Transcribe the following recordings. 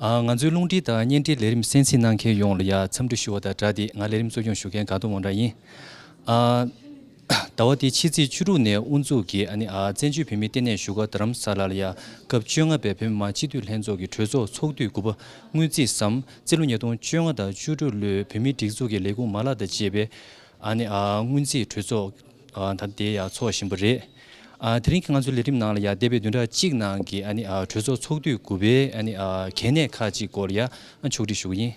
ང་ཚོའི་རླུང་འཕྲིན་དང་བརྙན་འཕྲིན་ལས་རིམ་གསན་གཟིགས་གནང་མཁན་ཡོངས་ལ་ཡང་འཚམས་འདྲི་ཞུ་བ་དང་སྦྲགས་ཏེ་ང་ལས་རིམ་གཙོ་སྐྱོང་ཞུ་མཁན་དགའ་གདོང་བང་སྒྲ་ཡིན། ཟླ་བ་འདིའི་ཕྱི་ཚེས་བཅུ་དྲུག་ནས་དབུ་འཛུགས་ཀྱིས་བཙན་བྱོལ་བོད་མིའི་ལྟེ་གནས་བཞུགས་སྒར་རྡ་རམ་ས་ལ་ལ་ཡང་སྐབས་བཅོ་ལྔ་པའི་བོད་མི་མང་སྤྱི་འཐུས་ལྷན་ཚོགས་ཀྱི་གྲོས་ཚོགས་ཚོགས་དུས་དགུ་པ་དངུལ་རྩིས་སམ་རྩིས་ལོ་ཉིས་སྟོང་བཅོ་ལྔ་དང་བཅུ་དྲུག་ལོའི་བོད་མིའི་སྒྲིག་འཛུགས་ཀྱི་ལས་ཁུངས་མ་ལག་དང་བཅས་པའི་དངུལ་རྩིས་གྲོས་ཚོགས། ད་དེ་ཡག་ཚོགས་བཞིན་པོ་རེད། དེ་རིང་གི་ང་ཚོའི་ལས་རིམ་ནང་ལ་ཡ་འདས་པའི་བདུན་ཕྲག་གཅིག་ནང་གི་གྲོས་ཚོགས་ཚོགས་དུས་དགུ་པའི་གལ་གནད་ཁག་ཅིག་སྐོར་ཡ་ཕྱོགས་སྒྲིག་ཞུ་གི་ཡིན།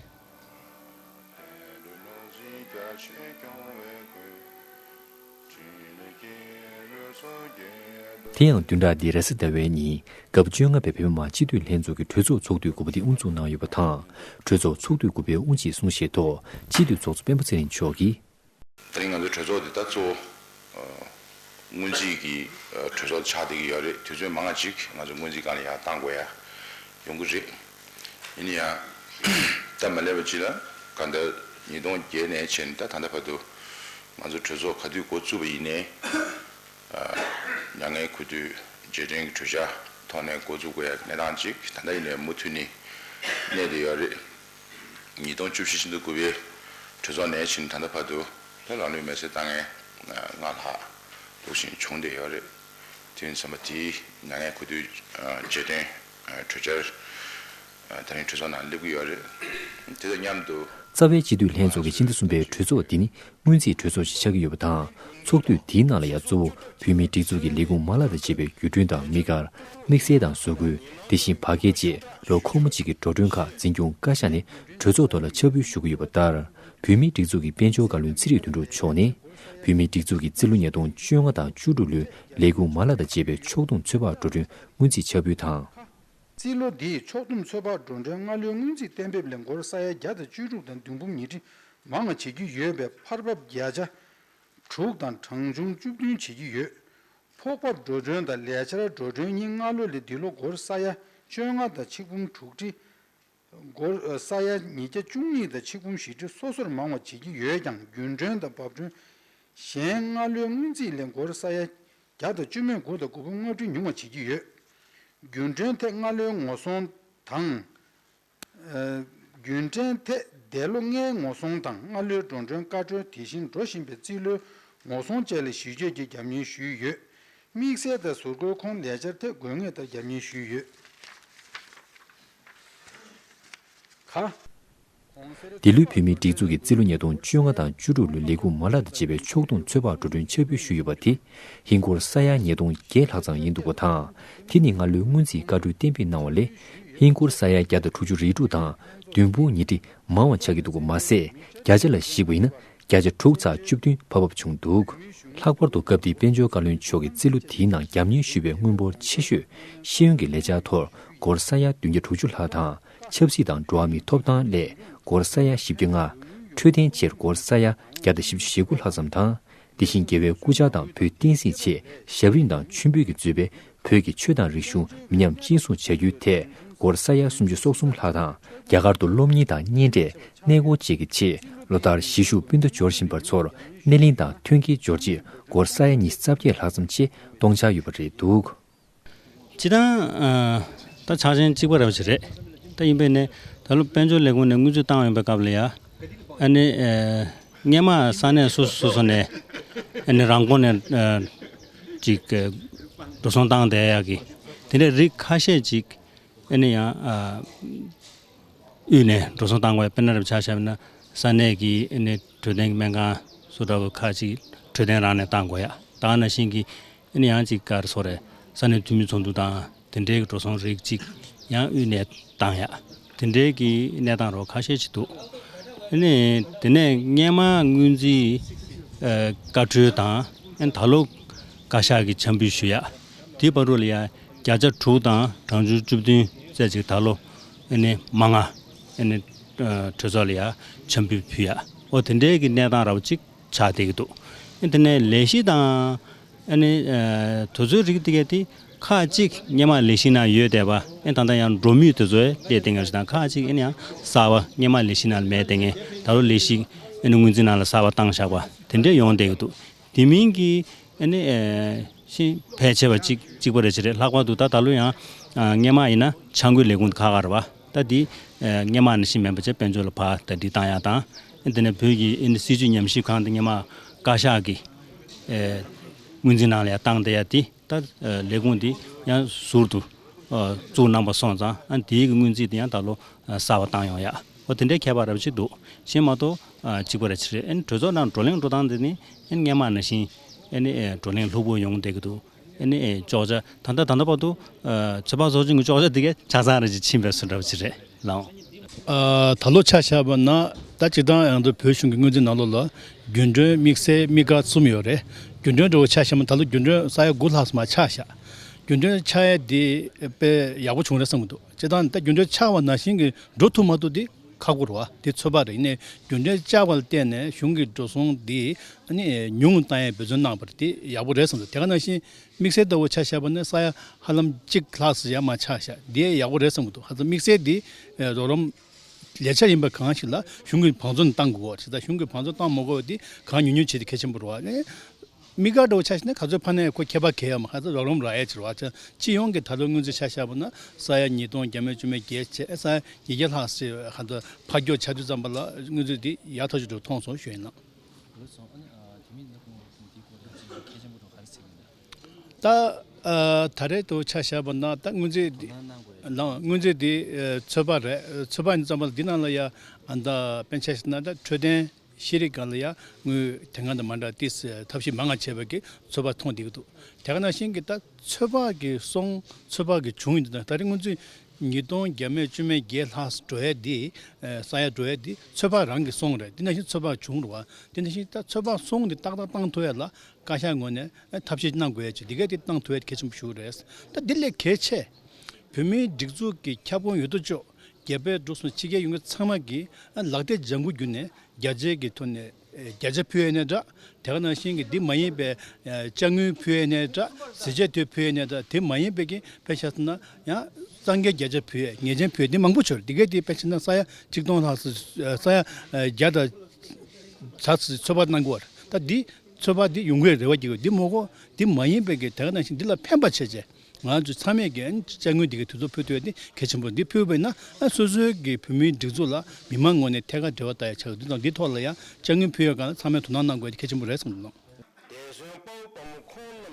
དེ་ཡང་བདུན་ཕྲག་འདིའི་ར་བཟི་ཟླ་བའི་ཉིན་སྐབས་བཅོ་ལྔ་པའི་བོད་མི་མང་སྤྱི་འཐུས་ལྷན་ཚོགས་ཀྱི་གྲོས་ཚོགས་ཚོགས་དུས་དགུ་པ་དེ་དབུ་འཛུགས་གནང་ཡོད་པ་དང་གྲོས་ཚོགས་ཚོགས་དུས་དགུ་པའི་དབུ་འབྱེད་གསུང་བཤད་ཐོག་སྤྱི་འཐུས་ཚོགས་གཙོ་སྤེན་པ་ཚེ་རིང་མཆོག་གིས། ད་རིང་ང་ཚོའི་གྲོས་ཚོགས་འདི་ད་གཙོ་བོསྔོན་རྩིས་ཀྱི་གྲོས་ཚོགས་ཆགས་བསྡད་ཀྱི་ཡོད་རེད་དུས་ཚོད་མང་ང་ཅིག་ང་ཚོ་སྔོན་རྩིས་གང་ལ་ཡང་བཏང་དགོས་ཡ་ཡོང་གི་རེད། ཡིན་ན་ཡང་སྟབས་མ་ལེགས་པ་ཅིག་ལ་ག་ད་ཉིས་སྟོང་བརྒྱད་ནས་བྱས་ནས་ད་ད་ལྟ་བར་དུ་ང་ཚོ་གྲོས་ཚོགས་ག་དུས་འགོ་བཙུགས་པ་ཡིན་ནའི་མྱ་ངན་གུས་འདུད་རྗེས་དྲན་གྱི་གྲོས་འཆར་ཐོག་ནས་འགོ་བཙུགས་དགོས་ཡ་གནས་སྟངས་ཅིག་ད་ལྟ་ཡིན་ནའི་མུ་མཐུད་ནི་གནས་བསྡད་ཡོད་རེད། ཉིས་སྟོང་བཅུ་བཞི་ཕྱི་ཟླ་དགུ་པའི་གྲོས་ཚོགས་ནས་ཕྱི་ནས་ད་ལྟ་བར་དུ་ལྷོད་ལྷག་ལུས་མེད་སའི་དཀའ་ངལ་སྔར་ལྷག་ལྷུག་ཕྱིན་བྱུང་བསྡད་ཡོད་རེད། དེ་ཡིན་ཚང་མ་དེའི་མྱ་ངན་གུས་འདུད་རྗེས་དོན་གྲོས་འཆར་ད་རིང་གྲོས་ཚོགས་ནང་སླེབས་ཀྱི་ཡོད་རེད། དེ་དང་མཉམ་དུ། རྩ་བའི་སྤྱི་འཐུས་ལྷན་ཚོགས་ཀྱི་སྤྱི་ཟླ་གསུམ་པའི་གྲོས་ཚོགས་འདི་ནི་སྔོན་རྩིས་སྤྲོད་ཚོགས་ཞིག་ཆགས་ཀྱི་ཡོད་པ་དང་ཚོགས་དུས་འདིའི་ནང་ལ་ཡང་གཙོ་བོ་བོད་མིའི་སྒྲིག་འཛུགས་ཀྱི་ལས་ཁུངས་མ་ལག་དང་བཅས་པའི་བརྒྱུད་སྐྲུན་དང་དམིགས་བཀར། དམིགས་བསལ་དང་བཟོ་བཀོད་དེ་བཞིན་བ་སྐད་བཅས་ལོ་འཁོར་མོ་གཅིག་གི་འགྲོ་གྲོན་ཁག་འཛིན་སྐྱོང་བཀའ་ཤག་ནས་གྲོས་ཚོགས་ཐོག་ལ་ཕྱག་ཕུལ་ཞུ་གི་ཡོད་པ་ལྟར། བོད་མིའི་སྒྲིག་འཛུགས་ཀྱི་དཔལ་འབྱོར་བཀའ་བློན་ཚེ་རིང་དོན་གྲུབ་མཆོག་ནས། བོད་མིའི་སྒྲིག་འཛུགས་ཀྱི་རྩིས་ལོ་ཉིས་སྟོང་བཅོ་ལྔ་དང་བཅུ་དྲུག་ལོའི་ལས་ཁུངས་མ་ལག་དང་བཅས་པའི་ཕྱོགས་བསྡོམས་ཚོད་དཔག་འགྲོ་གྲོན་སྔོན་རྩིས་ཕྱག་ཕུལ་དང། རྩིས་ལོ་འདིའི་ཕྱོགས་བསྡོམས་ཚོད་དཔག་འགྲོ་གྲོན་སྔ་ལོའི་སྔོན་རྩིས་གཏན་འབེབས་ལས་འགོར་ས་ཡ་བརྒྱ་དང་བཅུ་དྲུག་དང་བདུན་འབུམ་ཉིས་ཁྲི་མང་བྱེད་ཀྱི་ཡོད་པའི་ཕར་བབས་བརྒྱ་ཆ་དྲུག་དང་གྲངས་ཆུང་བཅུ་བདུན་བྱེད་ཀྱི་ཡོད། ཕོགས་བབས་འགྲོ་གྲོན་དང་ལས་འཆར་འགྲོ་གྲོན་གཉིས་སྔ་ལོ་ལས་འདི་ལོ་སྒོར་ས་ཡ་བཅོ་ལྔ་དང་ཆིག་འབུམ་དྲུག་ཁྲི། སྒོར་ས་ཡ་ཉིས་བརྒྱ་བཅུ་གཉིས་དང་ཆིག་འབུམ་བཞི་ཁྲི་སོ་སོར་མང་བ་བྱེད་ཀྱི་ཡོད་ཀྱང་རྒྱུན་གྲོན་དང་བབས་གྲོན་གཞན་སྔ་ལོའི་སྔོན་རྩིས་ལས་སྒོར་ས་ཡ་བརྒྱ་དང་བཅུ་མེད་དགུ་དང་དགུ་བོ་ལྔ་ཁྲི་ཉུང་བ་བྱེད་ཀྱི་ཡོད། རྒྱུན་གྲོན་ཐད་སྔ་ལོའི་ངོ་སོང་དང། རྒྱུན་གྲོན་ཐད་འདས་ལོ་ལྔའི་ངོ་སྲུང་དང་སྔ་ལོའི་འགྲོ་གྲོན་བཀའ་འཁྲོལ་དེ་བཞིན་འགྲོ་བཞིན་པའི་རྩིས་ལོའི་ངོ་སྲུང་བཅས་ལ་གཞི་བཅོལ་གྱིས་རྒྱབ་གཉེར་ཞུས་ཡོད། དམིགས་བསལ་དང་ཟུར་བཀོལ་ཁོངས་ལས་འཆར་ཐད་དགོས་ངེས་ལྟར་རྒྱབ་གཉེར་ཞུས་ཡོད། གྷ། འདི་ལོའི་བོད་མིའི་སྒྲིག་འཛུགས་ཀྱི་རྩིས་ལོ་ཉིས་སྟོང་བཅོ་ལྔ་དང་བཅུ་དྲུག་ལོའི་ལས་ཁུངས་མ་ལག་དང་བཅས་པའི་ཕྱོགས་མཐོང་ཚོད་དཔག་འགྲོ་གྲོན་འཆར་འབུལ་ཞུས་ཡོད་པ་དེ་ཧིན་སྒོར་ས་ཡ་ཉིས་སྟོང་བརྒྱད་ལྷག་ཙམ་ཡིན་འདུག་པ་དང་དེ་ནི་སྔ་ལོའི་སྔོན་རྩིས་བཀའ་འཁྲོལ་གཏན་འབེབས་གནང་བ་ལས་ཧིན་སྒོར་ས་ཡ་བརྒྱ་དང་དྲུག་ཅུ་རེ་དྲུག་དང་བདུན་སྤུན་ཉིས་ཁྲི་མང་བ་ཆགས་ཀྱི་འདུག་པ་མ་ཟད་བརྒྱ་ཆ་ལ་གཞིགས་པ་ཡིན་ན་བརྒྱ་ཆ་དྲུག་ཚགས་བཅུ་བདུན་བབ་བབ་བྱུང་འདུག་ལྷག་པར་དུ་སྐབས་དེའི་དཔལ་འབྱོར་བཀའ་བློན་མཆོག་གིས་རྩིས་ལོ་དེའི་ནང་རྒྱབ་གཉེར་ཞུས་པའི་དངུལ་འབོར་ཆེ་ཤོས་ཤེས་ཡོན་གྱི་ལས་བྱ་ཐོར་སྒོར་ས་ཡ་བདུན་བརྒྱ་དྲུག་ཅུ་ལྷག་དང་ཆབ་སྲིད་དང་འགྲོ་བ་མིའི་ཐོབ་ཐང་སླད་སྒོར་ས་ཡ་བཞི་བརྒྱ་ལྔ། འཕྲོད་བསྟེན་ཆེད་སྒོར་ས་ཡ་བརྒྱ་དང་བཞི་བཅུ་ཞེ་དགུ་ལྷག་ཙམ་དང་དེ་བཞིན་རྒྱལ་བའི་སྐུ་བཅར་དང་བོད་བསྟན་སྲིད་ཆེད་ཞབས་རིམ་དང་མཆོད་འབུལ་གྱི་མཛོད་པའི་བོད་ཀྱི་ཆོས་དང་རིག་གཞུང་མི་ཉམས་གཅེས་སྲུང་བྱ་རྒྱུའི་ཐད་སྒོར་ས་ཡ་སུམ་ཅུ་སོ་གསུམ་ལྷག་དང། རྒྱ་གར་དུ་སློབ་གཉེར་དང་གཉེན་འབྲེལ་གནས་སྐོར་བཅས་ཀྱི་ཆེད་ལོ་ལྟར་གཞིས་བཞུགས་སྤུན་ཟླ་འབྱོར་བཞིན་པ་ཚོར་སྣེ་ལེན་དང་ཐོན་སྐྱེད་འབྱོར་རྗེས་སྒོར་ས་ཡ་ཉིས་རྩ་བརྒྱད་ལྷག་ཙམ་ཆེད་གཏོང་འཆར་ཡོད་པ་རེད་འདུག། སྤྱི་བཏང། ད་ཆ་ཆེན་གཅིག་པ་རེད་བ་ཞིག་རེད། ད་ཡིན་པས་ནི་ད་ལོ་དཔལ་འབྱོར་ལས་ཁུངས་ནས་དངུལ་ཆུ་བཏང་ཡོང་པའི་སྐབས་ལ་ཡ། ཨ་ནི། སྙེ་མ་ས་གནས་སོ་སོ་སོ་སོ་ནས། ཨ་ནི་རང་ཁོངས་ནས། ཅིག། འགྲོ་སོང་བཏང་སྟེ་ཡ་གི། དེ་འདྲའི་རིགས་ཁ་ཤས་ཅིག། ཨ་ནི་ཡང། དབུས་ནས་འགྲོ་སོང་བཏང་བས་དཔེར་ན་རེ་བ་ཆ་བྱས་པ་ན་ས་གནས་ཀྱི་ཨ་ནི་འཕྲོད་བསྟེན་གྱི་སྨན་ཁང་སུ་འདྲ་བ་ཁག་ཅིག་འཕྲོད་བསྟེན་རང་ནས་བཏང་དགོས་ཡ། བཏང་ན་ཤིང་གི། ཨེ་ནི་ཡང་ཅིག་ཀར་སོགས་རེ་ས་ནས་འཐུས་མི་ཚོགས་འདུ་དང་དེ་འབྲེལ་གྱི་འགྲོ་སོང་རིགས་གཅིག་ཡང་དབུས་གནས་སྟངས་ཡག་དེ་འབྲེལ་གྱི་གནས་སྟངས་རོགས་ཁ་ཤས་ཅིག་འདུག་ཨེ་ནི་དེ་ནས་སྔན་མ་དངུལ་རྩིས་བཀའ་འཁྲོལ་དང་ཨེ་ནི་ད་ལོ་བཀའ་ཤག་གི་འཆམ་འབུལ་ཞུ་ཡག་དེའི་བར་རུ་ལ་ཡང་བརྒྱ་ཆ་དྲུག་དང་གྲངས་ཆུང་བཅུ་བདུན་བཙལ་ཅིག་ད་ལོ་ཨེ་ནི་མ་ལྔ་ཨེ་ནི་གྲོས་ཚོགས་ལ་ཡང་འཆམ་འབུལ་ཕུལ་ཡག་ཨོ་དེ་འབྲེལ་གྱི་གནས་སྟངས་ར་བ་གཅིག་ཆགས་བསྡད་ཀྱི་འདུག་དེ་ནས་ལས་གཞི་དང། དུས་ཚོད་རིགས་དེ་ག་དེ་ཁག་གཅིག་སྙེ་མ་ལས་གཞི་ན་ཡོད་བསྡད་པ། ད་ལྟ་ཡང་འགྲོ་མུས་དུས་ཚོད་བསྡད་བསྡད་ངེས་རེད་དང་ཁག་གཅིག་ཡིན་ཡང་གསར་བ་སྙེ་མ་ལས་གཞི་ན་མེད་བསྡད་ངེས་ད་ལོ་ལས་གཞི་དངུལ་འཛིན་ནང་ལ་གསར་བ་བཏང་བཞག་པ་དེ་འདྲས་ཡོང་བསྡད་ཀྱི་འདུག་དེ་མིན་གྱི། ཤིང་ཕལ་ཆེ་བ་གཅིག་གཅིག་པ་རེ་བྱས་རེད་ལྷག་པར་དུ་ད་ད་ལོ་ཡང་སྙེ་མ་ཡིན་ན་ཆང་ཁུལ་ལས་ཁུངས་དེ་ག་ག་རེད་བ། ལྟ་དེ། སྙེ་མ་ནི་ཤིང་སྨན་པ་བཅས་དཔལ་འབྱོར་ལ་བག་ལྟ་འདྲི་བཏང་ཡ་དང། དེ་ནས་བོད་ཀྱི་སྲིད་ཇུས་ཉམས་ཞིབ་ཁང་དང་སྙེ་མ་བཀའ་ཤག་གི་དངུལ་འཛིན་ནང་ལ་ཡང་བཏང་སྟེ་ཡ་དེ་ལྟར་ལས་ཁུངས་དེ་ཡང་ཟུར་དུ་བཙུགས་གནང་བ་སོང་ཙང་ཨ་དེའི་དངུལ་འཛིན་དེ་ཡང་ད་ལོ་གསར་བ་བཏང་ཡོང་ཡ། ཨོ་དེ་འདྲའི་ཁྱད་པར་རབ་ཅིག་འདུག་གཞན་མ་གཏོགས་གཅིག་པ་རེད་ཆི་རེད་གྲོས་ཚོགས་ནང་བགྲོ་གླེང་འགྲོ་སྟངས་དེ་ནི་སྙེ་མ་ནི་ཤིང་བགྲོ་གླེང་ལྷུག་པོ་ཡོང་བསྡད་ཀྱི་འདུག་ཅོག་ཆ་ད་ལྟ་ད་ལྟ་བར་དུ། ཚོད་དཔག་ཚོགས་ཆུང་གི་ཅོག་ཆ་དེ་གའི་ཆ་ཚང་རེད་ཅེས་ཕྱིན་པའི་སུ་འདྲ་བ་ཅིག་རེད་ལགས། ད་ལོ་ཆ་ཤར་བ་ན་ད་གཅིག་ཀྲང་ཡང་ཏུ་བོད་གཞུང་གི་དངུལ་འཛིན་ནང་ལོགས་ལ་རྒྱུན་གྲོན་དམིགས་བསལ་དམིགས་བཀར་གསུམ་ཡོད་རེད་རྒྱུན་གྲོན་འདྲ་བོ་ཆ་ཤར་མ་ད་ལོ་རྒྱུན་གྲོན་ས་ཡ་དགུ་ལྷག་སུ་མ་ཆགས་ཤག་རྒྱུན་གྲོན་ཆགས་ཡས་དེ་དཔེ་ཡག་པོ་བྱུང་རེད་བསམ་གི་འདུག་ཅེ་ད་ནི་ད་རྒྱུན་གྲོན་ཆགས་བ་ན་ཞིང་གི་འགྲོ་ཐུབ་མ་ཐུབ་དེ། ཁ་བསྐོར་བ་དེ་ཚོད་དཔག་རིག་གནས་རྒྱུ་འབྲས་བཅའ་བ་ལ་བརྟེན་ནས་གཞུང་གི་འགྲོ་སོང་འདི་ནི་ཉུང་ངུ་བཏང་ཡས་འབོད་བརྩོན་གནང་བར་དེ་ཡག་པོ་རེད་བསམ་སོང་དེ་ག་ནང་བཞིན་དམིགས་བསལ་ལྟ་བུ་ཆགས་ཤག་པ་ནི་ས་ཡ་ཧ་ལམ་གཅིག་ལྷག་སུ་ཡང་མ་ཆགས་ཤག་དེ་ཡག་པོ་རེད་བསམ་གྱི་འདུག་ཧ་ཚང་དམིགས་བསལ་འདི་རོགས་རམ་ལས་འཆར་ཡིན་པ་གང་ཞིག་ལ་གཞུང་གི་བང་བརྩོན་གཏང་དགོས་དེ་ལྟར་གཞུང་གི་བང་བརྩོན་གཏང་མ་དགོས་པ་དེ་གང་ཉུང་ཉུང་བྱས་ཏེ་གལ་ཆེན་པོ་རུ་བ་ནི། མི་དགའ་སྤྲོ་བ་ཆགས་ཤིང་ན་ག་ཚོད་ཕ་ནའི་ཁོ་ཁྱད་པར་གས་ཡ་མ་ཧ་ཚ་རོགས་རོམ་ར་ཨེ་ཆེར་བ་ཆ་སྤྱི་ཡོངས་ཀྱི་ད་དུང་དངུལ་རྩི་ཆ་ཤ་པོ་ན་ས་ཡ་ཉིས་སྟོང་གྱ་མོད་བཅུ་མེད་བརྒྱད་ཆ་ཨེ་ས་ཡ་ཉིས་བརྒྱ་ལྷག་སེ་བའི་ཧ་ཚ་ཕ་སྐྱོ་ཆ་དུས་ཙམ་པ་ལ་དངུལ་རྩི་འདི་ཡག་ཐོག་ཅིག་འགྲོ་ཐོངས་སོང་ཞོན་ན། ད་ད་རེས་དུ་ཆ་ཤ་པོ་ན་ད་དངུལ་རྩི་འདི་དངུལ་རྩི་འདི་ཚོད་དཔག་རེད་ཚོད་དཔག་ཙམ་པ་ལ་འདི་ན་ལ་ཡ་ཨ་ད་དཔེ་ཆ་ཤ་ན་ད་འཕྲོད་བསྟེན། ཤེས་རིག་སྒར་ལ་ཡང་དངུལ་དེ་སྔ་དང་མ་འདྲ་སྟེ་ཐབས་ཤེས་མ་ང་བྱས་པ་གིས་ཚོད་དཔག་ཐོངས་བསྡད་ཀྱི་འདུག་དེ་ག་ནང་བཞིན་གྱི་ད་ཚོད་དཔག་གིས་སོང་ཚོད་དཔག་གིས་བྱུང་ཡོད་འདུག་ད་རེས་སྔོན་ཚུད་ཉིས་སྟོང་བརྒྱད་མེད་བཅོ་མེད་བརྒྱད་ལྷག་ས་གྲོ་ཡ་འདི་ས་ཡ་གྲོ་ཡ་འདི་ཚོད་དཔག་རང་གིས་སོང་རེད་དེ་ནང་བཞིན་ཚོད་དཔག་བྱུང་རུང་བ་དེ་ནང་བཞིན་ད་ཚོད་དཔག་སོང་འདི་ཏག་ཏག་བཏང་ཐུབ་ཡ་ལ་བཀའ་ཤག་ངོས་ནས་ཐབས་ཤེས་གནང་དགོས་ཡ་ཆེ་འདི་གས་དེ་བཏང་ཐུབ་ཡ་གལ་ཆེན་པོ་ཞུ་རེད་ད་འདི་ལས་གལ་ཆེ་བོད་མིའི་སྒྲིག་འཛུགས་ཀྱི་ཁྱབ་ཁོངས་ཡོད་དོ་ཅོག་རྒྱལ་པོས་འབྲུག་སོགས་ཕྱི་རྒྱལ་ཡུལ་དངོས་ཚང་མ་གི་ལག་སྟེ་ལྗང་གུ་བརྒྱུད་ནས་རྒྱ་རྗེས་ཀྱི་ཐུ་ནས་རྒྱ་ཇ་ཕུའེ་ནས་དྲག་དེ་ག་ནང་བཞིན་གྱི་འདི་མ་ཡིན་པའི་ལྕགས་དངུལ་ཕུའེ་ནས་དྲག་གཟི་བྱས་ཐུ་ཕུའེ་ནས་དྲག་དེ་མ་ཡིན་པའི་གི་པའི་ཤ་ཚ་ན་ཡང་གཙང་རྒྱལ་རྒྱ་ཇ་ཕུའེ་ངེས་ཅན་ཕུའེ་འདི་མང་པོ་བྱོས་དེ་གའི་དེའི་པའི་ཕྱི་ནང་ས་ཡ་གཅིག་སྟོང་ལྷག་སུ་ས་ཡ་བརྒྱ་དང་བྱ་ཚིག་ཚོད་དཔག་གནང་དགོས་བར་ད་འདི་ཚོད་དཔག་འདི་ཡོང་གི་རེད་བ་གི་གོ་འདི་མོ་གོ་འདི་མ་ཡིན་པའི་གི་དེ་ག་ནང་བཞིན་འདི་ལ་ཕན་པ་བྱེད་བྱེད། ང་ཚོས་ཚང་མས་ཀྱིས་དཔྱ་དངུལ་འདི་གའི་དུས་ཚོད་ཕུལ་ཐུབ་ཡོད་དེ་གལ་ཆེན་པོ་རེད་འདི་ཕུལ་བས་ན་སོ་སོའི་གི་བོད་མིའི་སྒྲིག་འཛུགས་ལ་མི་མང་ངོས་ནས་ཐད་ཀར་འབྲེལ་བ་ལྟ་ཡག་ཆགས་ཡོད་དུས་དང་འདི་ཐོག་ལ་ཡང་དཔྱ་དངུལ་ཕུལ་ཡོད་ཀང་ཚང་མས་དོ་སྣང་གནང་དགོས་ཡོད་དེ་གལ་ཆེན་པོ་རེད་བསམ་གི་ཡོད།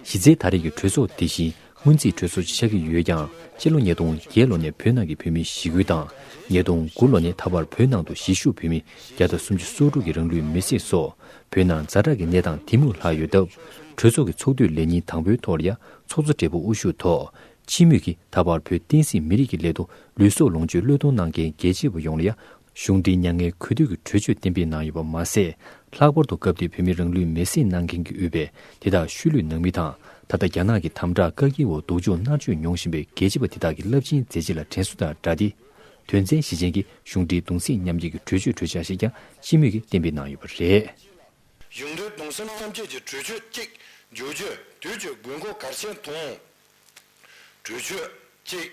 གཞི་རྩའི་ད་རེས་ཀྱི་གྲོས་ཚོགས་དེ་བཞིན་སྔོན་རྩིས་གྲོས་ཚོགས་ཆགས་ཀྱི་ཡོད་ཀྱང་སྤྱི་ལོ་ཉིས་སྟོང་བརྒྱད་ལོ་ནས་བོད་ནང་གི་བོད་མི་ཞི་རྒོལ་དང་ཉིས་སྟོང་དགུ་ལོ་ནས་ད་བར་བོད་ནང་དུ་གཞིས་བཞུགས་བོད་མི་བརྒྱ་དང་སུམ་ཅུ་སོ་དྲུག་གི་རང་ལུས་མེར་སྲེག་སོགས་བོད་ནང་རྫ་དྲག་གི་གནས་སྟངས་དེ་མུར་ལྷག་ཡོད་སྟབས་གྲོས་ཚོགས་ཀྱི་ཚོགས་དུས་ལས་ཉིན་དང་པོའི་ཐོག་ལ་ཡང་ཚོགས་གཙོ་སྦྲེལ་པོ་དབུ་བཞུགས་ཐོག་ཕྱི་མིག་གིས་ད་བར་བོད་བསྟན་སྲིད་མི་རིགས་ཀྱི་སླད་དུ་ལུས་སྲོག་ལོངས་སྤྱོད་བློས་གཏོང་གནང་མཁན་རྒྱལ་གཅེས་པ་ཡོངས་ལ་ཡང་གཞུང་འབྲེལ་མྱ་ངན་གུས་འདུད་ཀྱི་གྲོས་ཆོད་གཏན་འབེབས་གནང་ཡོད་པ་མ་ཟད། ལྷག་པར་དུ་སྐབས་དེའི་བོད་མི་རང་ལུས་མེར་སྲེག་གནང་མཁན་གྱི་དབུས་པའི་དེ་དག་ཤུལ་ལུས་ནང་མི་དང་ད་ལྟ་རྒྱ་ནག་གི་དམ་དྲག་བཀག་སྐྱིལ་འོག་སྡུག་སྦྱོང་མནར་གཅོད་མྱོང་བཞིན་པའི་རྒྱལ་གཅེས་པ་དེ་དག་གི་རླབས་ཆེན་མཛད་རྗེས་ལ་དྲན་གསོ་དང་སྦྲགས་ཏེ། དོན་ཚན་བཞི་ཅན་གྱི་གཞུང་འབྲེལ་གདུང་སྲེག་མཉམ་སྐྱེད་ཀྱི་གྲོས་ཆོད་གྲོས་འཆར་ཞིག་ཀྱང་ཕྱི་མིག་གིས་གཏན་འབེབས་གནང་ཡོད་པ་རེད། གཞུང་འབྲེལ་གདུང་སེམས་མཉམ་སྐྱེད་ཀྱི་གྲོས་ཆོད་གཅིག་བསྒྱུར་བརྒྱུད་དུས་ཀྱི་དགོས་མཁོ་གལ་ཆེན་མཐོང། གྲོས་ཆོད་གཅིག།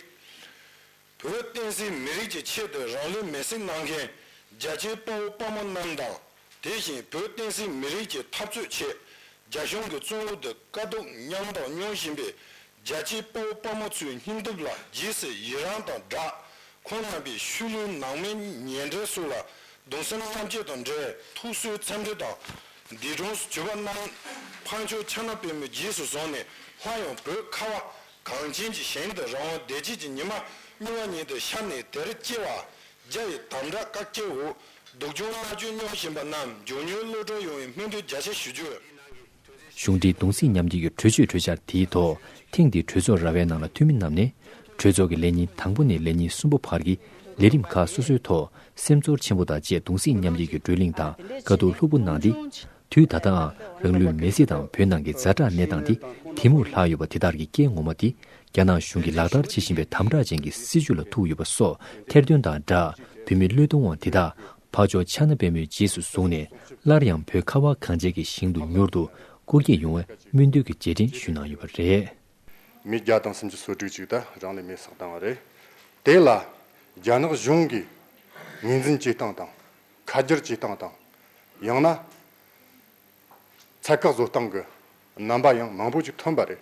བོད་བསྟན་སྲིད་མི་རིགས་ཀྱི་ཆེད་དུ་རང་ལུས་མེ་སྲེག་གནང་མཁན་རྒྱ་ཆེའི་དཔའ་བོ་དཔའ་མོ་རྣམས་དང་དེ་བཞིན་བོད་བསྟན་སྲིད་མི་རིགས་ཀྱི་འཐབ་རྩོད་ཆེད་རྒྱ་གཞུང་གི་བཙོན་འུར་དུ་དཀའ་སྡུག་མཉམ་དང་མྱོང་བཞིན་པའི་རྒྱལ་གཅེས་དཔའ་བོ་དཔའ་མོ་ཚོའི་སྙིང་སྟོབས་ལ་ཇི་སྲིད་ཡི་རང་དང་སྦྲགས། ཁོང་རྣམ་པའི་ཤུལ་ལུས་ནང་མི་ཉེ་འབྲེལ་སུ་ལ་གདུང་སེམས་མཉམ་སྐྱེད་དང་འབྲེལ་ཐུགས་གསོའི་འཚམས་འདྲི་དང། འདས་གྲོངས་སུ་གྱུར་པ་རྣམས་ཕ་མཆོག་ཕྱག་ན་པད་མོའི་རྗེས་སུ་བཟུང་ནས་སླར་ཡང་བོད་ཁ་བ་གངས་ཅན་གྱི་ཞིང་དུ་རང་དབང་བདེ་སྐྱིད་ཀྱི་ཉི་མ་སྨྱུང་བ་ཉིད་དུ་ཤར་ནས་དེར་སྐྱེ་བ་རྒྱ་ཡི་དམ་བསྒྲགས་བཀའ་སྐྱེལ་འོག་སྡུག་སྦྱོང་མནར་གཅོད་མྱོང་བཞིན་པ་རྣམས་མགྱོགས་མྱུར་གློད་གྲོལ་ཡོང་བའི་སྨོན་འདུན་རྒྱ་ཆེ་ཞུ་རྒྱུ། གཞུང་འདིས་གདུང་སེམས་མཉམ་སྐྱེད་ཀྱི་གྲོས་ཆོད་གྲོས་འཆར་དེའི་ཐོག་ཐེངས་འདིའི་གྲོས་ཚོགས་ར་བའི་ནང་ལ་འཐུས་མི་རྣམས་ནས། གྲོས་ཚོགས་ཀྱི་ལས་ཉིན་དང་པོ་ནས་ལས་ཉིན་གསུམ་པ་བར་གྱི་ལས་རིམ་ཁག་སོ་སོའི་ཐོག་སེམས་ཚོར་ཆེན་པོ་དང་བཅས་གདུང་སེམས་མཉམ་སྐྱེད་ཀྱི་བགྲོས་གླེང་དང་དཀའ་སྡུག་ལྷུག་པོ་གནང་སྟེ། དུས་ད་ལྟའང་རང་ལུས་མེ་བསྲེགས་དང་བོད་ནང་གི་རྫ་དྲག་གནས་སྟངས་དེ་དེ་མུར་ལྷག་ཡོད་པ་དེ་དག་གི་རྐྱེན་ངོ་མ་དེ་རྒྱ་ནག་གཞུང་གིས་ལག་བསྟར་བྱེད་བཞིན་པའི་དམ་དྲག་ཅན་གྱི་སྲིད་བྱུས་ལ་ཐུག་ཡོད་པ་སོགས་ཐེར་འདོན་དང་སྦྲགས་བོད་མི་བློས་གཏོང་བ་དེ་དག་འཕགས་མཆོག་ཕྱག་ན་པད་མོའི་རྗེས་སུ་བཟུང་ནས་སླར་ཡང་བོད་ཁ་བ་གངས་ཅན་གྱི་ཞིང་དུ་མྱུར་དུ་སྐུ་སྐྱེ་ཡོང་བའི་སྨོན་འདུན་གྱི་རྗེས་དྲན་ཞུས་གནང་ཡོད་པ་རེད། མི་བརྒྱ་དང་སུམ་ཅུ་སོ་དྲུག་ཅིག་དང་རང་ལས་མེ་བསགས་བཏང་བ་རེད། དེ་ལ་རྒྱ་ནག་གཞུང་གིས་ངོས་འཛིན་བྱེད་སྟངས་དང། ཁ་བསྒྱུར་བྱེད་སྟངས་དང། ཡང་ན། ཚད་བཀག་བཟོ་སྟངས་ཀྱི་རྣམ་པ་ཡང་མང་པོ་ཅིག་ཐོན་པ་རེད།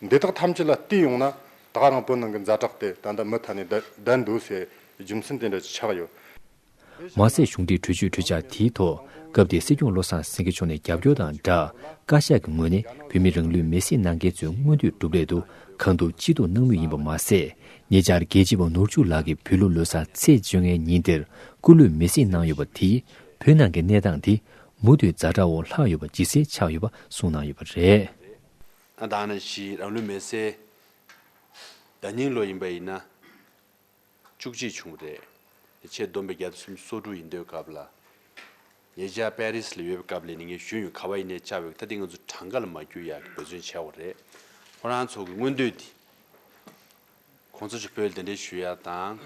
འདི་དག་ཐམས་ཅད་ལ་བལྟས་ཡོང་ན་ད་རང་བོད་ནང་གི་མཛའ་གྲགས་དེ་ད་ལྟ་མུ་མཐའ་ནས་བརྡལ་འདུག་སའི་རྒྱུ་མཚན་དེ་འདྲ་ཆགས་ཡོད། མ་ཟད་གཞུང་འབྲེལ་གྲོས་ཆོད་གྲོས་འཆར་དེའི་ཐོག་སྐབས་དེའི་སྲིད་སྐྱོང་བློ་བཟང་སེང་གེ་མཆོག་ནས་རྒྱབ་སྐྱོར་དང་སྦྲགས་བཀའ་ཤག་གི་ངོས་ནས་བོད་མི་རང་ལུས་མེ་བསྲེགས་གནང་མཁན་ཚོའི་མངོན་འདོད་སྒྲུབ་སླད་དུ་གང་ཐུབ་ཅི་ཐུབ་གནང་མུས་ཡིན་པ་མ་ཟད། ཉེ་ཆར་རྒྱལ་གཅེས་པ་ནོར་ཕྱུགས་ལགས་ཀྱིས་བོད་ལུགས་ལོ་སར་ཚེས་བཅོ་ལྔའི་ཉིན་དེར་སྐུ་ལུས་མེ་བསྲེགས་གནང་ཡོད་པ་དེས་བོད་ནང་གི་གནས་སྟངས་དེ་མུ་མཐུད་རྫ་དྲ་བོར་ལྷག་ཡོད་པ་ཇི་སྲིད་ཆགས་ཡོད་པ་གསུངས་གནང་ཡོད་པ་རེད། ད་ནི་ཕྱིའི་རང་ལུས་མེ་བསྲེགས་ཟླ་སྙིང་ལོ་ཡིན་པ་ཡིན་ན། བཅུ་གཅིག་བྱུང་བ་རེད། དེ་ཆེས་བསྡོམས་པའི་རྒྱ་དུས་སུམ་སོ་དྲུག་ཡིན་འདོད་སྐབས་ལ། ངེད་ཅག་པེ་རིས་ལ་ཡོད་པའི་སྐབས་ལས་ནི་ངའི་གཞོན་ཡུལ་གྷ་བྷ་ཡི་ནས་བཅའ་བའི་ཁུག་རྟ་དེ་ང་ཚོའི་གྲངས་ཀ་ལ་མ་བསྐྱུར་ཡག་གི་འབད་བརྩོན་བྱས་བ་རེད། ཁོ་རང་ཚོ་གི་མངོན་འདོད་དེ། ཁོང་ཚོ་ཞིག་བོད་དེ་འདྲས་ཞུ་ཡག་དང།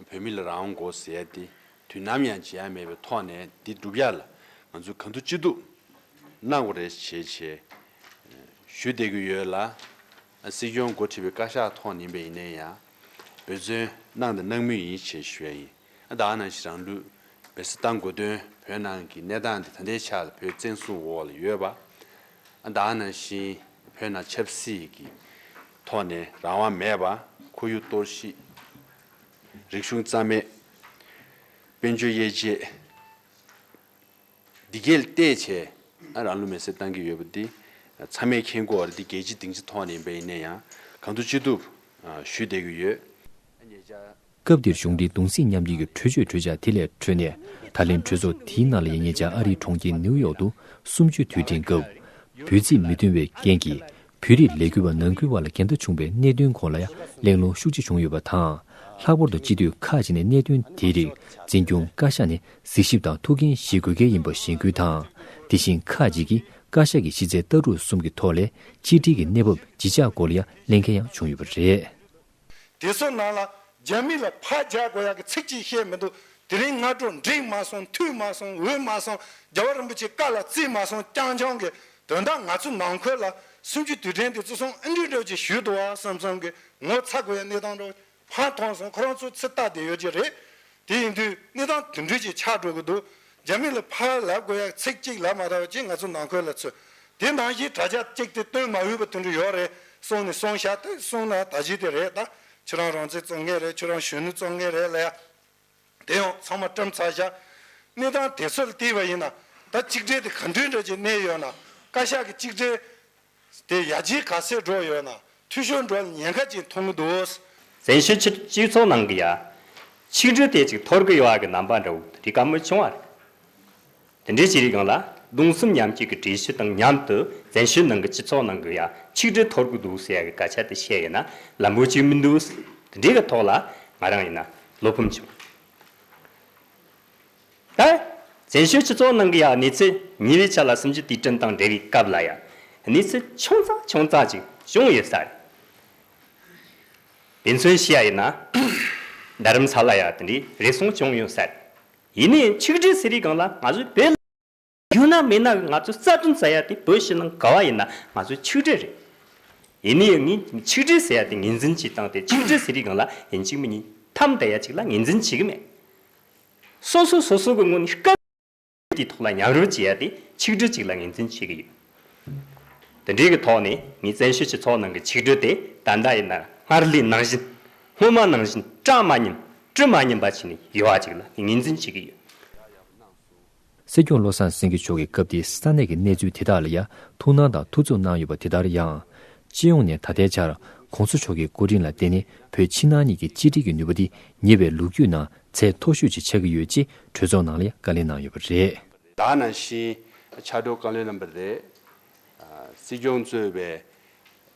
བོད་མི་ལ་རང་དབང་དགོས་ཟེར་ཡག་དེ་དུས་ནམ་ཡང་བྱེད་ཡག་མེད་པའི་ཐོག་ནས་དེ་བསྒྲུབ་ཡག་ལ་ང་ཚོས་ག་འདུག་ཅི་འདུག་གནང་བ་རེད་བྱས་བྱས་ཞུ་བསྡད་གི་ཡོད་ལ། སྲིད་སྐྱོང་མགོ་ཁྲིད་པའི་བཀའ་ཤག་ཐོག་ནས་ཡིན་པ་ཡིན་ན་ཡང། འབོད་བརྩོན། གནང་དང་གནང་མུས་ཡིན་ཞེས་ཞུ་བ་ཡིན། དག་ནང་བཞིན་རང་ལུས། བེད་སྤྱོད་གཏང་དགོས་དོན་བོད་ནང་གི་གནས་སྟངས་འདི་ད་ལྟའི་ཆ་ལ་བོད་བཙན་བཟུང་འོག་ལ་ཡོད་པ། དག་ནང་བཞིན་བོད་ནང་ཆབ་སྲིད་ཀྱི་ཐོག་ནས་རང་དབང་མེད་པ། ཁོར་ཡུག་གཏོར་བཤིག། རིག་གཞུང་རྩ་མེད། དཔལ་འབྱོར་དབྱེ་འབྱེད། འདི་གལ་ཏེ་བྱས་ན་རང་ལུས་མེར་སྲེག་བཏང་གི་ཡོད་པ་འདི་ཚང་མས་མཁྱེན་དགོས་བ་རེད་འདི་རྒྱལ་སྤྱི་སྡིངས་ཆ་ཐོག་ནས་ཡིན་པ་ཡིན་ན་ཡང་གང་ཐུབ་ཅི་ཐུབ་ཞུས་བསྡད་ཀྱི་ཡོད། སྐབས་འདིར་གཞུང་འབྲེལ་གདུང་སེམས་མཉམ་སྐྱེད་ཀྱི་གྲོས་ཆོད་གྲོས་འཆར་དེ་ལས་འཕྲོས་ནས་ད་ལན་གྲོས་ཚོགས་དེའི་ནང་ལ་ཡིན་ཉེ་ཆར་ཨ་རིའི་གྲོང་ཁྱེར་ནིའུ་ཡོག་ཏུ་གསུམ་བཅུའི་དུས་དྲན་སྐབས། བོད་རྩིས་མི་མཐུན་བའི་རྐྱེན་གྱིས་བོད་རིགས་ལས་འགུལ་བ་ནང་ཁུལ་བར་ལ་འགལ་ཟླ་བྱུང་བའི་གནད་དོན་སྐོར་ལ་ཡང་གླེང་སློང་ཤུགས་ཆེ་བྱུང་ཡོད་པ་དང། ལྷག་པར་དུ་སྤྱི་འཐུས་ཁག་ཅིག་ནས་གནད་དོན་དེའི་རིགས་འཛིན་སྐྱོང་བཀའ་ཤག་ནས་གཟིགས་ཞིབ་དང་ཐུགས་འགན་བཞེས་དགོས་གལ་ཡིན་པ་གཞེན་སྐུལ་དང། དེ་བཞིན་ཁག་ཅིག་གིས་བཀའ་ཤག་གི་ཕྱི་གསལ་ལྟ་གྲུབ་གསུམ་གྱི་ཐོག་ལས་སྤྱི་འཐུས་ཀྱི་གནས་བབ་ཇི་ཆགས་སྐོར་ལ་ཡང་གླེང་མཁན་ཡང་བྱུང་ཡོད་པ་རེད། དེ་ཚོ་ནང་ལ་རྒྱ་མི་ལ་ཕར་རྒྱག་དགོས་ཡག་གི་ཚིག་གཅིག་བཤད་མི་འདུག་དེ་རིང་སྔ་དྲོ་འགྲིག་མ་སོང་འཐུས་མ་སོང་འོས་མ་སོང་རྒྱལ་བ་རིན་པོ་ཆེ་བཀའ་ལ་བརྩི་མ་སོང་རྐྱང་རྐྱང་གི་དོན་དག་ང་ཚོ་ནང་ཁུལ་ལ་སུན་གྱི་དུས་དྲན་དེ་ཚོ་སོང་ཨེ་འགྲིག་འགྲིག་ཅིག་ཞུས་འདུག་བསམ་བསམ་གི་ངོ་ཚ་དགོས་ཡག་གནས་སྟངས་རོགས་ཕར་མཐོང་སོང་ཁོ་རང་ཚོ་ཚིག་རྟགས་དེ་ཡོད་ཀྱི་རེད་དེ་ཡིན་དུས་གནས་སྟངས་དུད་འགྲོས་ཀྱི་ཆགས་འགྲོ་གི་འདུག་རྒྱ་མི་ལ་ཕར་ལབ་དགོས་ཡག་ཚིག་གཅིག་ལབ་མ་ཐག་ཅིག་ང་ཚོ་ནང་ཁུལ་ལ་ཚུད་དེ་ནང་བཞིན་དྲ་རྒྱ་བཀྱིགས་ཏེ་སྟོན་མ་འོས་པ་དུད་འགྲོ་ཡོད་རེད་གསུང་ནས་གསུང་ཤག་ཏུ་གསུང་ན་ད་གཞི་དེ་རེད་ད་ཁྱོད་རང་རང་བཙན་རྩོད་མཁན་རེད་ཁྱོད་རང་གཞོན་ནུ་རྩོད་མཁན་རེད་ལ་ཡ་དེ་ཡང་ཚང་མ་བཀྲམ་ཚར་བཞག་གནས་སྟངས་དེ་ཚོ་ལ་བལྟས་པ་ཡིན་ན་ད་གཅིག་སྒྲིལ་དེ་ག་འདྲའི་འདྲ་གྱི་གནས་ཡོད་ན་བཀའ་ཤག་གི་གཅིག་སྒྲིལ། དེ་ཡ་རྗེས་ག་ཚོད་འགྲོ་ཡོད་ན་འཐུས་ཤོར་འགྲོ་ཉེན་ཁ་ཅིག་མཐོང་གི་འདུག། གསལ་ཤོས་ཕྱིར་སྤྱི་ཚོགས་ནང་གི་ཡ། ཆིག་སྒྲིལ་དེ་ཅིག་འཐོར་གི་ཡོད་ཨ་གི་རྣམ་པ་འདྲ་བོ་རིགས་ག་མུས་བྱུང་བ་རེད། དེ་འདྲའི་བྱས་རིགས་ཡོངས་ལ་གདུང་སེམས་མཉམ་སྐྱེད་ཀྱི་འགྲེལ་བཤད་དང་མཉམ་དུ་གསལ་ཤོས་ནང་གི་སྤྱི་ཚོགས་ནང་གི་ཡ་ཆིག་སྒྲིལ་འཐོར་གི་འདུག་ཟེར་ཡ་གི་སྐད་ཆ་དེ་བཤད་ཡོད་ན་ལམ་བུ་གཅིག་མི་འདུག་དེ་འདྲའི་གི་ཐོག་ལ་ང་རང་ཡིན་ན་བློ་ཕམ་བྱུང། ད། བཙན་བྱོལ་སྤྱི་ཚོགས་ནང་གི་ཡ་གནས་ཚུལ་ཉེ་བའི་ཆ་ལ་སུམ་ཅུ་དུས་དྲན་དང་འབྲེལ་བའི་སྐབས་ལ་ཡ་གནས་ཚུལ་ཆུང་ཙག་ཆུང་ཙག་ཅིག་བྱུང་ཡོད་ས་རེད། དེ་མཚོན་བྱེད་ཡ་ཡིན་ན། རྡ་རམ་ས་ལ་ཡ་དེ་འདྲའི་རེ་ཟུང་བྱུང་ཡོད་ས་རེད། ཡིན་ནའི་ཆིག་སྒྲིལ་ཟེར་བའི་སྒང་ལ་ང་ཚོའི་བོད། རྒྱུ་ནག་མི་ནག་གི་ང་ཚོའི་རྩ་ཁྲིམས་ཟེར་ཡ་དེ་བོད་ཕྱི་ནང་ག་བ་ཡིན་ན་ང་ཚོའི་ཆིག་སྒྲིལ་རེད། ཡིན་ནི་ཡང་ངས་ཆིག་སྒྲིལ་ཟེར་ཡ་དེ་ངེས་འཛིན་གྱིས་བཏང་སྟེ་ཆིག་སྒྲིལ་ཟེར་རིགས་གང་ལ་ཡིན་གཅིག་མི་གཉིས་ཐམ་དད་ཡ་གཅིག་ལ་ངེས་འཛིན་བྱེད་ཀྱི་མེད། སོ་སོ་སོ་སོ་གི་ངོ་ནས་སྐབས་དེའི་ཐོག་ལ་ཉམས་རོལ་བྱེད་ཡ་དེ་ཆིག་སྒྲིལ་གཅིག་ལ་ངེས་འཛིན་བྱེད་ཀྱི་ཡོད། དེ་འདྲའི་གི་ཐོག་ནས་ངས་བཙན་ཤེད་ཀྱིས་ཚོགས་ནང་གི་ཆིག་སྒྲིལ་དེ་ད་ལྟ་ཡིན་ན་སྔར་ལས་ནང་བཞིན་སྔོན་མ་ནང་བཞིན་སྐྲག་མ་ཉིན་དཀྲུག་མ་ཉིན་པ་བྱས་ནས་ཡོད་བ་གཅིག་ལ་ངེས་འཛིན་བྱེད་ཀྱི་ཡོད། ཡག་ཡག་གནང་སོང། སྲིད་སྐྱོང་བློ་བཟང་སེང་གེ་མཆོག་གིས་སྐབས་དེའི་ས་གནས་ཀྱི་གནས་ཚུལ་དེ་དག་ལ་ཡང་ཐུགས་སྣང་དང་ཐུགས་འཚུབ་གནང་ཡོད་པ་དེ་ལྟར་ཡང། སྤྱི་ཡོངས་ནས་ད་ལྟའི་ཆར ྋགོང་ས་མཆོག་གི་སྐུ་དྲིན་ལ་བརྟེན་ནས་བོད་ཕྱི་ནང་གཉིས་ཀྱི་གཅིག་སྒྲིལ་གྱི་ནུས་པ་འདི་ཉེ་བའི་ལོ་རྒྱུས་ནང་ཚད་མཐོ་ཤོས་ཅིག་ཆགས་ཀྱི་ཡོད་ཅེས་གྲོས་ཚོགས་ནང་ལ་ཡང་བཀའ་ལན་གནང་ཡོད་པ་རེད། ད་ནང་བཞིན་ཕྱག་སྒྲོག་བཀའ་བློན་རྣམ་པ་རེད། སྲིད་སྐྱོང་གཙོས་པའི་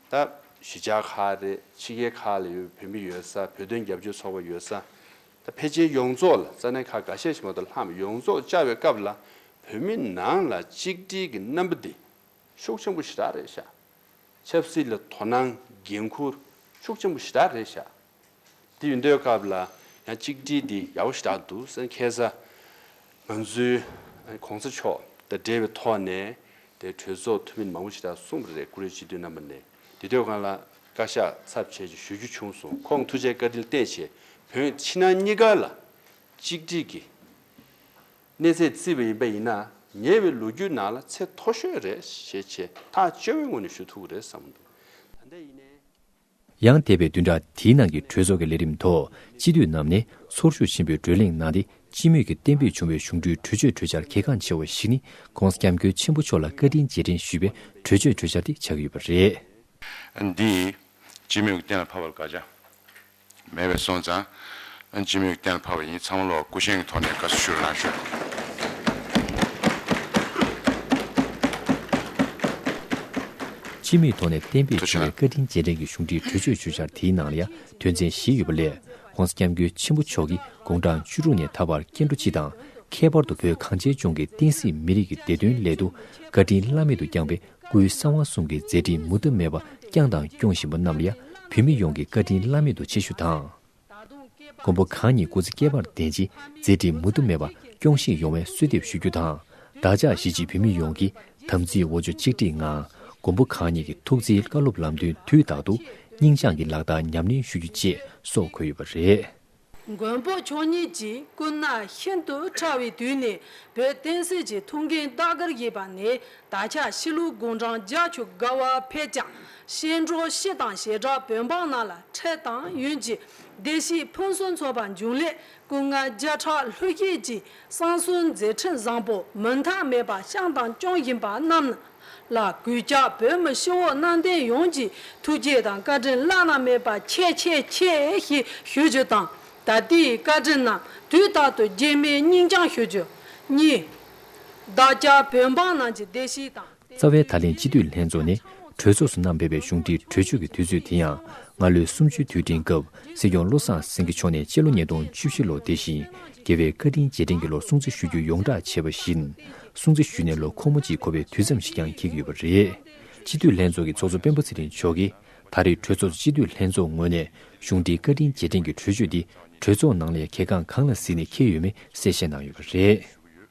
སྟབས་གཞི་ཆགས་ཁག་རེད། ཕྱི་རྒྱལ་ཁག་ལ་ཡོད་པའི་བོད་མི་ཡོད་ས་བོད་དོན་རྒྱབ་སྐྱོར་ཚོགས་པ་ཡོད་ས། ད་ཕལ་ཆེར་ཡོངས་རྫོགས་ལ་རྩ་ནས་ཁག་འགའ་ཤས་ཤིག་མ་གཏོགས་ལྷམ་ཡོངས་རྫོགས་བཅའ་བའི་སྐབས་ལ་བོད་མི་ནང་ལ་གཅིག་སྒྲིལ་གྱི་རྣམ་པ་འདི་ཤུགས་ཆེན་པོ་ཞེ་དྲག་རེད་ཤག། ཆབ་སྲིད་ལ་དོ་སྣང་འགན་འཁུར་ཤུགས་ཆེན་པོ་ཞེ་དྲག་རེད་ཤག། འདི་ཡོད་འདོད་སྐབས་ལ་ཡང་གཅིག་སྒྲིལ་འདི་ཡག་པོ་ཞེ་དྲག་འདུག་སེ་མཁས་ས། ང་ཚོའི་གོང་ས་མཆོག་དང་འབྲེལ་བའི་ཐོག་ནས་དེ་གྲོས་ཚོགས་འཐུས་མི་མང་པོ་ཞེ་དྲག་གསུངས་པ་རེད་ཀུ་རེ་སྤྱི་འཐུས་རྣམ་པ་ནས་དེ་དུས་གང་ལ་བཀའ་ཤག་ཚབ་བྱས་ཀྱི་ཞུ་རྒྱུ་བྱུང་སོང་ཁོང་ཐུགས་རྗེ་བཀའ་དྲིན་བརྟས་ཆེ་བོད་ཕྱི་ནང་གཉིས་ཀ་ལ་གཅིག་སྒྲིལ་གྱི་གནས་ཚད་བརྩི་བ་ཡིན་པ་ཡིན་ན་ཉེ་བའི་ལོ་རྒྱུས་ནང་ལ་ཚད་མཐོ་ཤོས་རེད་ཞེས་ཆེས་ཐག་གཅོད་བའི་ངོས་ནས་ཞུ་ཐུག་གི་རེད་བསམ་འདུག་ད་ལྟ་ཡིན་ནའི། ཡང་འདས་པའི་བདུན་ཕྲག་དེའི་ནང་གི་གྲོས་ཚོགས་ཀྱི་ལས་རིམ་ཐོག་སྤྱི་འཐུས་རྣམས་ནས་ཚོར་ཤུགས་ཆེན་པོས་བགྲོས་གླེང་གནང་སྟེ་སྤྱི་མོས་ཀྱིས་གཏན་འབེབས་བྱུང་བའི་གཞུང་འབྲུའི་གྲོས་ཆོད་གྲོས་འཆར་གལ་འགངས་ཆེ་བ་ཞིག་ནི ྋགོང་ས ྋསྐྱབས་མགོན་ཆེན་པོ་མཆོག་ལ་བཀའ་དྲིན་རྗེས་དྲན་ཞུས་པའི་གྲོས་ཆོད་གྲོས་འཆར་དེ་ཆགས་ཡོད་པ་རེད། འདིས་སྤྱི་མོས་ཀྱི་གཏན་ལ་ཕབ་པར་དགག་བྱ་མེད་པས་སོང་ཙང། སྤྱི་མོས་ཀྱི་གཏན་ལ་ཕབ་པ་ཡིན་ཚང་མ་ལོགས་སྐུ་བཞེངས་ཀྱི་ཐོག་ནས་དགའ་བསུ་ཞུ་རུ་ལངས་ཞུ། སྤྱི་མོས་ཐོག་ནས་གཏན་འབེབས་བྱུང་བའི་བཀའ་དྲིན་རྗེས་དྲན་གྱི་གཞུང་འབྲེལ་གྲོས་ཆོད་གྲོས་འཆར་དེའི་ནང་ལ་ཡང་དོན་ཚན་བཞི་ཡོད་པ་ལས་ཁོང་སྐྱབས་མགོན་ཆེན་པོ་མཆོག་གིས་དགུང་གྲངས་བཅུ་དྲུག་ནས་ད་བར་སྐྱེ་འགྲོ་སྤྱི་དང་ཁྱད་པར་དུ་བོད་གངས་ཅན་ལྗོངས་ཀྱི་བསྟན་སྲིད་མི་རིགས་ཀྱི་བདེ་དོན་སླད་དུ་བཀའ་དྲིན་བླ་མེད་དུ་བསྐྱངས་པས་སྐུའི་གསང་བ་གསུམ་གྱི་མཛད་འཕྲིན་མུ་མཐའ་མེད་པ་བསྐྱངས་དང་སྐྱོང་བཞིན་པ་རྣམས་ལ་བོད་མི་ཡོངས་ཀྱི་བཀའ་དྲིན་བླ་མེད་དུ་ཆེ་ཞུ་དང། མགོན་པོ་གང་ཉིད་སྐུ་ཚེ་བསྐལ་པར་བརྟན་ཅིང་མཛད་འཕྲིན་མུ་མཐུ་མེད་པ་སྐྱོང་བཞིན་ཡོང་བའི་གསོལ་འདེབས་ཞུ་རྒྱུ་དང་བདག་ཅག་གཞིས་བྱེས་བོད་མི་ཡོངས་ཀྱི་དམ་ཚིག་འོ་ཆུ་གཅིག་སྒྲིག་ངང་མགོན་པོ་གང་ཉིད་ཀྱི་ཐུགས་བརྩེའི་བཀའ་སློབ་ལམ་སྟོན་དུས་རྟག་ཏུ་སྙིང་བཅངས་ཀྱིས་ལག་བསྟར་ཉམས་ལེན་ཞུ་རྒྱུ་བཅས་སོགས་འཁོད་ཡོད་པ་རེད། མགོན་པོ་མཆོག་ཉིད་ཀྱིས་སྐུ་ན་ཤིན་ཏུ་ཕྲ་བའི་དུས་ནས་བོད་བསྟན་སྲིད་ཀྱི་ཐུགས་འགན་བདག་གིར་བཞེས་པ་ནས་ད་ཆ་གཤིས་ལུགས་དགུང་གྲངས་བརྒྱ་བཅུ་དགའ་བ་འཕེལ་ཀྱང་གཤེན་སྒྲོག་གཤིས་དང་ཞེ་དྲག་བོད་འབངས་རྣམས་ལ་ཁྲེལ་དང་ཡུན་གྱི་བདེ་སྐྱིད་ཕུན་སུམ་ཚོགས་པ་འབྱུང་སླད་སྐུ་ངལ་བརྒྱ་ཕྲག་ལྷོད་སྐྱེས་ཀྱིས་བསང་གསོལ་མཛད་འཕྲིན་བཟང་པོ་མུ་མཐའ་མེད་པ་བསྐྱངས་དང་སྐྱོང་བཞིན་པ་རྣམས་ལ་གུས་བཀྱག་བོད་མི་ཧྲིལ་བོ་གནའ་དེང་ཡོངས་ཀྱི་ཐུགས་རྗེ་དང་བཀའ་དྲིན་བླ་ན་མེད་པ་ཆེ་ཆེ་ཆེ་ཞེས་ཞུ་རྒྱུ་དང་ད་ལྟའི་བཀའ་དྲིན་རྣམས་དུས་རྟག་ཏུ་རྗེས་མའི་སྙིང་བཅངས་ཞུ་རྒྱུ་གཉིས། བདག་ཅག་བོད་འབངས་རྣམས་ཀྱི་བདེ་སྐྱིད་དང། རྩ་བའི་ད་ལན་སྤྱི་འཐུས་ལྷན་ཚོགས་ནི་གྲོས་ཚོགས་སུ་བསྣམས་ཕེབས་པའི་གཞུང་འབྲེལ་གྲོས་ཆོད་ཀྱི་དུས་ཚོད་དེ་ཡང་སྔར་ལོའི་གསུམ་བཅུའི་དུས་དྲན་སྐབས་སྲིད་སྐྱོང་བློ་བཟང་སེང་གེ་མཆོག་ནས་སྤྱི་ལོ་ཉིས་སྟོང་བཅུ་བཞི་ལོ་དེ་བཞིན་རྒྱལ་བའི་བཀའ་དྲིན་རྗེས་དྲན་གྱི་ལོར་སྲུང་བརྩི་ཞུ་རྒྱུ་ཡོངས་བསྒྲགས་བྱས་པ་བཞིན་སྲུང་བརྩི་ཞུས་ནས་ལོ་འཁོར་མོ་གཅིག་འཁོར་བའི་དུས་མཚམས་ཤིག་ཀྱང་འཁེལ་གྱི་ཡོད་པ་རེད། སྤྱི་འཐུས་ལྷན་ཚོགས་ཀྱི་ཚོགས་གཙོ་སྤེན་པ་ཚེ་རིང་མཆོག་གིས་ད་རེས་གྲོས་ཚོགས་སུ་སྤྱི་འཐུས་ལྷན་ཚོགས་ངོས་ནས་གཞུང་འབྲེལ་བཀའ་དྲིན་རྗེས་དྲན་གྱི་གྲོས་ཆོད་འདི་གྲོས་ཚོགས་ནང་ལས་ཁེ་ཁང་གང་ལ་གཟིགས་ནས་འཁེལ་ཡོད་མེད་གསལ་བཤད་གནང་ཡོད་པ་རེད།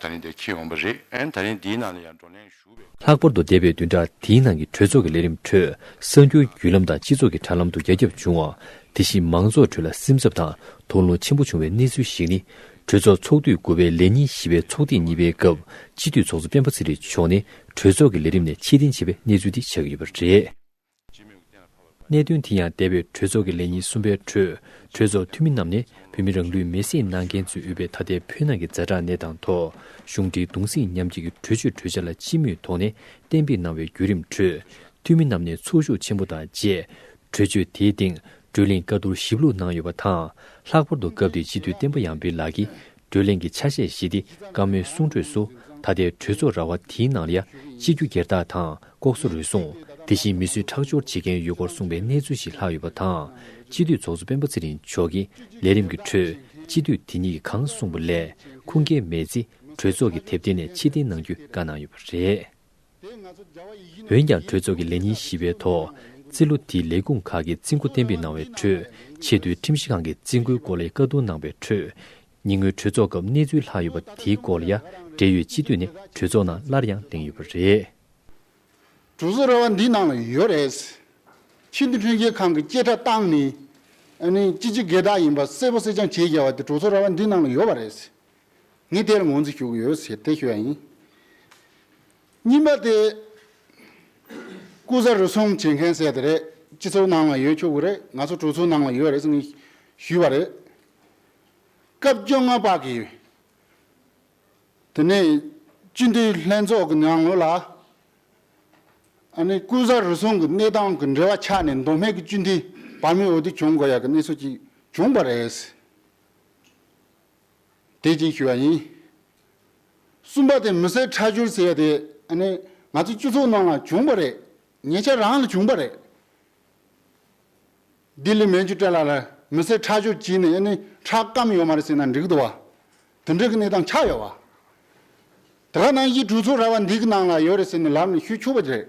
ད་རིང་དེ་ཁེལ་འོང་པ་རེད་ཨང་ད་རིང་དེའི་ནང་ལ་ཡང་བགྲོ་གླེང་ཞུ་བའི་ཁ། ལྷག་པར་དུ་འདས་པའི་བདུན་ཕྲག་དེའི་ནང་གི་གྲོས་ཚོགས་ཀྱི་ལས་རིམ་ཁྲོད་གསར་འགྱུར་བརྒྱུད་ལམ་དང་སྤྱི་ཚོགས་ཀྱི་དྲ་ལམ་དུ་རྒྱ་ཁྱབ་བྱུང་བ། དེ་བཞིན་མང་ཚོགས་ཁྲོད་ལ་སེམས་འཚབ་དང་དོགས་སློང་ཆེན་པོ་བྱུང་བའི་གནས་ཚུལ་ཞིག་ནི། གྲོས་ཚོགས་ཚོགས་དུས་དགུ་པའི་ལས་ཉིན་བཞི་པའི་ཚོགས་ཐེངས་གཉིས་པའི་སྐབས་སྤྱི་འཐུས་ཚོགས་གཙོ་སྤེན་པ་ཚེ་རིང་མཆོག་ནས་གྲོས་ཚོགས་ཀྱི་ལས་རིམ་ནས་ཕྱིར་འཐེན་བྱས་པའི་གནས་ཚུལ་འདི་ཆགས་ཡོད་པ་རེད། གནད་དོན་དེ་ཡང་འདས་པའི་གྲོས་ཚོགས་ཀྱི་ལས་ཉིན་གསུམ་པའི་ཁྲོད་གྲོས་ཚོགས་འཐུས་མི་རྣམས་ནས་བོད་མི་རང་ལུས་མེ་སྲེག་གནང་མཁན་ཚོས་དབུས་པའི་ད་ལྟའི་བོད་ནང་གི་རྫ་དྲག་གནས་དང་ཐོག་གཞུང་འབྲེལ་གདུང་སེམས་མཉམ་སྐྱེད་ཀྱི་གྲོས་ཆོད་གྲོས་འཆར་ལ་སྤྱི་མོས་ཐོག་ནས་གཏན་འབེབས་གནང་བའི་བརྒྱུད་རིམ་ཁྲོད་འཐུས་མི་རྣམས་ནས་ཚོགས་ཞུགས་ཆེན་པོ་དང་བཅས་གྲོས་ཆོད་དེའི་སྟེང་བགྲོས་གླེང་བཀའ་བསྡུར་ཞིབ་ལྷུག་གནང་ཡོད་པ་དང་ལྷག་པར་དུ་སྐབས་དེའི་སྤྱི་འཐུས་བསྟན་པ་ཡངས་འཕེལ་ལགས་ཀྱིས་བགྲོས་གླེང་གི་ཆ་ཤས་ཞིག་སྟེ་བཀའ་མོལ་གསུང་འཕྲོས་སུ་ད་ལྟའི་གྲོས་ཚོགས་ར་བ་དེའི་ནང་ལ་ཡ་གཅིག་རྒྱུ་སྒེར་དག་དང་ལྐོག་ཟ་རུལ་སུངས་དེ་བཞིན་མི་གསོད་ཁྲག་སྦྱོར་བྱེད་མཁན་ཡོད་སྐོར་གསུངས་པའི་གནས་ཚུལ་ཞིག་ལྷག་ཡོད་པ་དང། སྤྱི་འཐུས་ཚོགས་གཙོ་སྤེན་པ་ཚེ་རིང་མཆོག་གིས་ལས་རིམ་གྱི་ཁྲོད་སྤྱི་འཐུས་དེ་གཉིས་ཀྱིས་གང་གསུངས་པ་ལས་ཁུངས་སྐྱེལ་མེད་ཚེ་གྲོས་ཚོགས་ཀྱི་དེབ་ཐེར་ནས་ཕྱིར་འཐེན་གནང་རྒྱུ་བཀའ་གནང་ཡོད་པ་རེད། འོན་ཀྱང་གྲོས་ཚོགས་ཀྱི་ལས་ཉིན་བཞི་པའི་ཐོག་རྩིས་ལོ་དེའི་ལས་ཁུངས་ཁག་གི་རྩིས་འགོ་གཏན་འབེབས་གནང་བའི་ཁྲོད་ཆེས་མཐོའི་ཁྲིམས་ཞིབ་ཁང་གི་རྩིས་འགོའི་སྐོར་ལ་ཡ་བཀའ་བསྡུར་གནང་བའི་ཁྲོད། ཉེ་སྔོན་གྲོས་ཚོགས་སྐབས་གནས་ཚུལ་ལྷག་ཡོད་པ་དེའི་སྐོར་ལ་ཡ་འབྲེལ་ཡོད་སྤྱི་འཐུས་ནས་གྲོས་ཚོགས་ནང་སླར་ཡང་གླེང་ཡོད་པ་རེད། གྲོས་ཚོགས་ར་བ་འདིའི་ནང་ལ་ཡོད་རེད། ཆེས་མཐོའི་ཁྲིམས་ཞིབ་ཁང་གི་བཅད་ཁྲ་བཏང་ནས། ཅི་བྱེད་དགེ་རྟགས་ཡིན་པ་གསལ་པོ་གསལ་རྐྱང་བྱས་ཡ་བ་དེ་གྲོས་ཚོགས་ར་བ་འདིའི་ནང་ལ་ཡོད་པ་རེད། ངས་དེར་ངོ་འཛིན་ཞུ་གི་ཡོད་ཟེར་ཏེ་ཞུས་པ་ཡིན། གཉིས་པ་དེ། སྐུ་གཟའ་རུ་གསུམ་བྱེད་མཁན་ཟེར་དེ་རེད་སྤྱི་ཚོགས་ནང་ལ་ཡོད་ཆོག་གི་རེད་ང་ཚོ་གྲོས་ཚོགས་ནང་ལ་ཡོད་རེད་ཟེར་ནས་ཞུས་པ་རེད། སྐབས་བཅོ་ལྔ་པ་གི། དེ་ནས་སྤྱི་འཐུས་ལྷན་ཚོགས་ཀྱི་ནང་ངོས་ལ། ཨ་ནི་སྐུ་གཟའ་རུ་གསུམ་གྱི་གནས་སྟངས་ཀྱི་འབྲེལ་བ་ཆགས་ནས་མདོ་སྨད་ཀྱི་སྤྱི་འཐུས་བར་མི་འོས་བསྡུ་བྱུང་དགོས་ཡག་གི་གནས་ཚུལ་ཅིག་བྱུང་བ་རེད། དེ་བཞིན་ཞུས་པ་ཡིན། གསུམ་པ་དེ་མི་སེར་ཁྲལ་སྦྱོར་ཟེར་བ་དེ་ནི་ང་ཚོའི་སྤྱི་ཚོགས་ནང་ལ་བྱུང་བ་རེད། ཉེ་ཆར་རང་ལ་བྱུང་བ་རེད། ལྡི་ལི་མན་ཇུ་ཏྲ་ལ་ལ་མི་སེར་ཁྲལ་སྦྱོར་བྱས་ནས་ནི་ཁྲལ་སྐམ་ཡོད་མ་རེད་ཟེར་ན་འགྲིག་འདུག་བ། དེ་འདྲ་གི་གནས་སྟངས་ཆགས་ཡོད་བ། དེ་ག་ནང་བཞིན་གྲོས་ཚོགས་ར་བ་འདི་གི་ནང་ལ་ཡོད་རེད་ཟེར་ནས་ལབ་ནས་ཞུས་ཆོག་པ་རེད།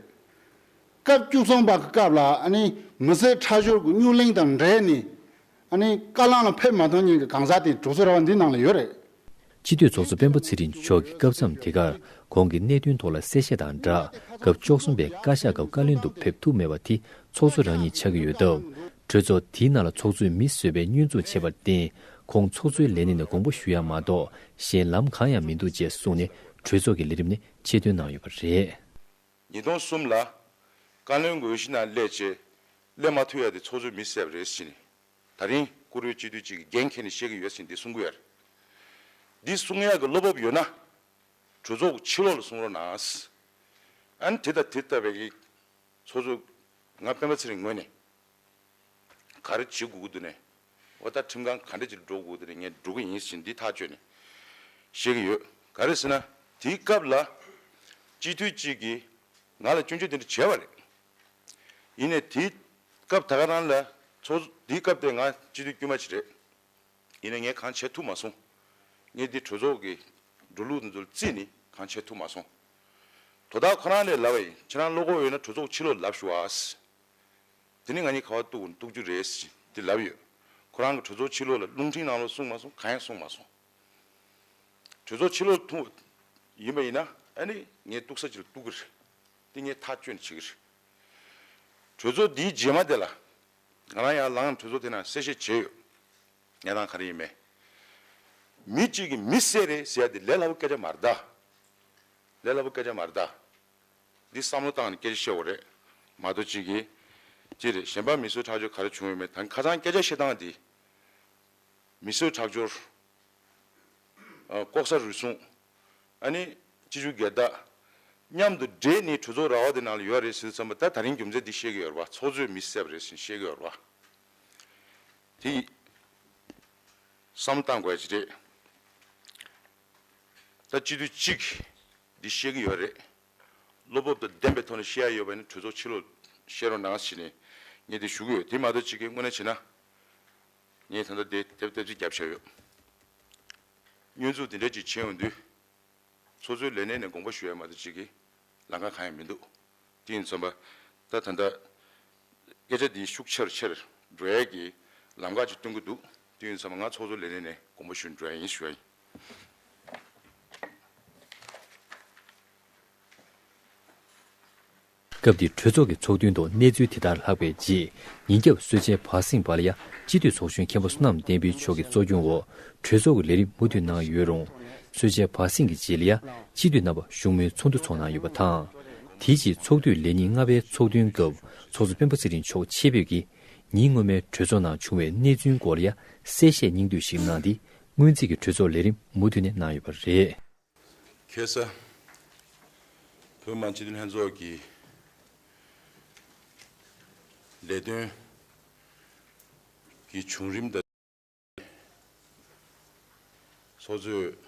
སྐབས་བཅུ་གསུམ་པ་གི་སྐབས་ལ་ནི་མི་སེར་ཁྲལ་སྦྱོར་གྱི་སྙུག་གླེང་དང་འབྲེལ་ནས་ཨ་ནི་དཀའ་བླངས་ལ་ཕེབས་མ་གཏོགས་ཉིན་གྱི་གང་ཟག་དེ་གྲོགས་ཚོ་ར་བ་འདི་ནང་ལ་ཡོད་རེད། སྤྱི་འཐུས་ཚོགས་གཙོ་སྤེན་པ་ཚེ་རིང་མཆོག་གིས་སྐབས་མཚམས་དེ་གར་གོང་གི་གནད་དོན་ཐོག་ལ་གསལ་བཤད་དང་སྦྲགས་སྐབས་བཅོ་གསུམ་པའི་བཀའ་ཤག་སྐབས་བཀའ་བློན་དུ་ཕེབས་ཐུབ་མེད་པ་དེ་ཚོགས་གཙོ་རང་ཉིད་ཆགས་ཀྱི་ཡོད་སྟབས། གྲོས་ཚོགས་དེའི་ནང་ལ་ཚོགས་གཙོས་མི་གསོད་པའི་བསྙོན་འཛུགས་བྱས་པར་བརྟེན་ཁོང་ཚོགས་གཙོའི་ལས་གནས་ནས་དགོངས་པ་ཞུ་ཡག་མ་གཏོགས་གཞན་ལམ་གང་ཡང་མི་འདུག་ཅེས་གསུངས་ནས་གྲོས་ཚོགས་ཀྱི་ལས་རིམ་ནས་ཆེད་འདོན་གནང་ཡོད་པ་རེད། ཉིས་སྟོང་གསུམ་ལ། བཀའ་བློན་དགོས་གཞི་ན་སླད་ཆེ། སླད་མ་ཐུ་ཡ་དེ་ཚོགས་གཙོས་མི་བསད་རེད་བཞིན། ད་རིང་བཀུར་འོས་སྤྱི་འཐུས་གཅིག་གི་འགན་ཁྱེར་ནས་བཤད་གི་ཡོད་བཞིན་འདི་གསུང་གི་ཡར། འདི་གསུང་ཡག་གི་བློ་བབ་ཡོད་ན། གྲོས་ཚོགས་ཕྱི་ལོག་ལ་གསུང་རོགས་གནང། ཨན་དེ་དང་དེ་ལྟ་བའི། ཚོགས་གཙོ། ང་སྤེན་པ་ཚེ་རིང་ངོས་ནས། གར་བྱེད་དགོས་ཀྱི་འདུག་ནས། འོ་ད་ཁྲིམས་ཁང་ག་འདྲ་ཅིག་འགྲོ་དགོས་ཀྱི་འདུག་ནས་ངས་འགྲོ་གི་ཡིན་ཞེས་འདི་ཐག་གཅོད་ནས་བཤད་ཀྱི་ཡོད། ག་རེ་ཟེར་ན་དེའི་སྐབས་ལ་སྤྱི་འཐུས་གཅིག་གིས་ང་ལ་སྐྱོན་བརྗོད་དེ་འདྲ་བྱས་པ་རེད། ཡིན་ནས་དེའི་སྐབས་ད་ག་རང་ལ་ཚོགས་གཙོ་དེའི་སྐབས་དེ་ང་སྤྱི་འཐུས་དཀྱུས་མ་ཞིག་རེད། ཡིན་ནས་ངས་གང་བྱས་ཐུབ་མ་སོང། ངས་འདི་གྲོས་ཚོགས་ཀྱི་འགྲོ་ལུགས་འདི་ཚོ་རྩིས་ནས་གང་བྱས་ཐུབ་མ་སོང། དོ་བདག་ཁོ་རང་ལས་ལབ་པ་ཡིན་ཁྱེད་རང་བློ་ཁོག་ཡོད་ན་གྲོས་ཚོགས་ཕྱི་ལོགས་ལབ་ཞུ་ཨཱ། དེ་ནི་ང་གཉིས་ག་བ་གཏུག་གཏུག་རྒྱུ་རེད་ཟེར་གྱིན་དེ་ལབ་ཡོད། ཁོ་རང་གི་གྲོས་ཚོགས་ཕྱི་ལོགས་ལ་རླུང་འཕྲིན་གནང་ལོ་གསུངས་མ་སོང་གང་ཡང་གསུངས་མ་སོང། གྲོས་ཚོགས་ཕྱི་ལོགས་ཐུང་བ་ཡིན་པ་ཡིན་ན་ཨ་ནི་ངས་གཏུག་ས་ཅིག་ལ་གཏུག་གི་རེད། དེ་ངས་ཐག་གཅོད་ནས་བྱེད་ཀྱི་རེད། གྲོས་ཚོགས་འདིའི་རྗེས་མ་དེ་ལ་ང་རང་ཡར་ལངས་ནས་གྲོས་ཚོགས་དེ་ནང་གསལ་བཤད་བྱས་ཡོད། གནས་སྟངས་ག་རེ་ཡིན་མེད། མི་གཅིག་གིས་མི་བསད་རེད་ཟེར་ཡ་དེ་ལས་སླ་པོ་སྐད་ཆ་མ་རེད། ལས་སླ་པོ་སྐད་ཆ་མ་རེད། འདི་བསམ་བློ་བཏང་ནས་སྐད་ཆ་བཤད་འོ་རེད་མ་གཏོགས་གཅིག་གིས་གཅིག་རེད་གཞན་པ་མི་གསོད་ཁྲག་སྦྱོར་ག་རེ་བྱུང་ཡོད་མེད་ད་ཁ་ཚང་སྐད་ཆ་བཤད་སྟངས་འདི་མི་གསོད་ཁྲག་སྦྱོར་ལྐོག་ཟ་རུལ་སུངས་ཨ་ནི་སྤྱི་རྒྱུ་སྒེར་བདག་མཉམ་དུ་འདྲེས་ནས་གྲོས་ཚོགས་ར་བ་དེ་ནང་ལ་ཡོད་རེད་ཟེར་བསམ་པ་ད་ད་རིང་རྒྱུ་མཚན་འདི་བཤད་གི་ཡོད་རེད་པ་ཚོགས་གཙོས་མི་བསད་པ་རེད་ཟེར་བཤད་གི་ཡོད་རེད་པ་དེ་ཡིས་བསམ་བློ་བཏང་དགོས་ཡ་ཅི་རེད་ད་སྤྱི་འཐུས་གཅིག་གིས། འདི་ཤེས་ཀྱི་ཡོད་རེད། བློ་སྤོབས་དང་ལྡན་པའི་ཐོག་ནས་བཤད་ཡ་ཡོད་པ་ནི་གྲོས་ཚོགས་ཕྱི་ལོགས་བཤད་རོགས་གནང་ཟེར་ནས་ངས་དེ་ཞུ་གི་ཡོད་དེ་མ་གཏོགས་ཅི་དགེ་བསྔོ་ན་བྱེད་ན། ངས་ད་ལྟ་དེ་དེབ་དེབ་ཅིག་བརྒྱབ་བྱས་ཡོད། བསྙོན་འཛུགས་དེ་འདྲ་ཅིག་བྱས་འོང་དུས། ཚོགས་གཙོའི་ལས་གནས་ནས་དགོངས་པ་ཞུ་ཡ་མ་གཏོགས་ཅི་དགེ་ལང་ཁ་གང་ཡང་མི་འདུག་དེ་ཡིན་ཚོམ་པ། ད་ད་ལྟ་སྐད་ཆ་འདི་ཤུགས་ཆེར་ཆེར་འགྲོ་ཡ་གི་ལམ་ཁ་ཅིག་སྟོན་གྱི་འདུག་དེ་ཡིན་ཚོམ་པ་ང་ཚོགས་གཙོ་ལས་གནས་ནས་དགོངས་པ་ཞུ་འགྲོ་ཡ་ཡིན་ཞུ་ཡ་ཡིན། སྐབས་དེ་གྲོས་ཚོགས་ཀྱི་ཚོགས་ཐུན་ཐོག་གནས་ཚུལ་དེ་ལྟར་ལྷག་པའི་རྗེས་ཉིན་རྒྱབ་གསོལ་ཇའི་བར་གསེང་བར་ཡ་སྤྱི་འཐུས་ཚོགས་གཞོན་མཁན་པོ་བསོད་ནམས་བསྟན་འཕེལ་མཆོག་གི་གཙོ་སྐྱོང་འོག་གྲོས་ཚོགས་ཀྱི་ལས་རིམ་མུ་མཐུད་གནང་ཡོད་རུང། གསོལ་ཇའི་བར་གསེང་གི་རྗེས་ལ་ཡ་སྤྱི་འཐུས་རྣམ་པ་བཞུགས་མོལ་ཚོགས་འདུ་འཚོགས་གནང་ཡོད་པ་དང། དེའི་རྗེས་ཚོགས་དུས་ལས་ཉིན་ལྔ་པའི་ཚོགས་ཐུན་སྐབས་ཚོགས་གཙོ་སྤེན་པ་ཚེ་རིང་མཆོག་ཆེད་ཕེབས་ཀྱིས་ཉིན་སྔོན་མའི་གྲོས་ཚོགས་ནང་བྱུང་བའི་གནས་ཚུལ་སྐོར་ཡ་གསལ་བཤད་སྙིང་བསྡུས་ཤིག་གནང་སྟེ་སྔོན་རྩིས་ཀྱི་གྲོས་ཚོགས་ལས་རིམ་མུ་མཐུད་ནས་གནང་ཡོད་པ་རེད། ཁེ་ས། བོད་དམངས་སྤྱི་འཐུས་ལྷན་ཚོགས་ཀྱི་ལས་དོན་གྱི་བྱུང་རིམ་དང་འབྲེལ་ཚོགས་གཙོས་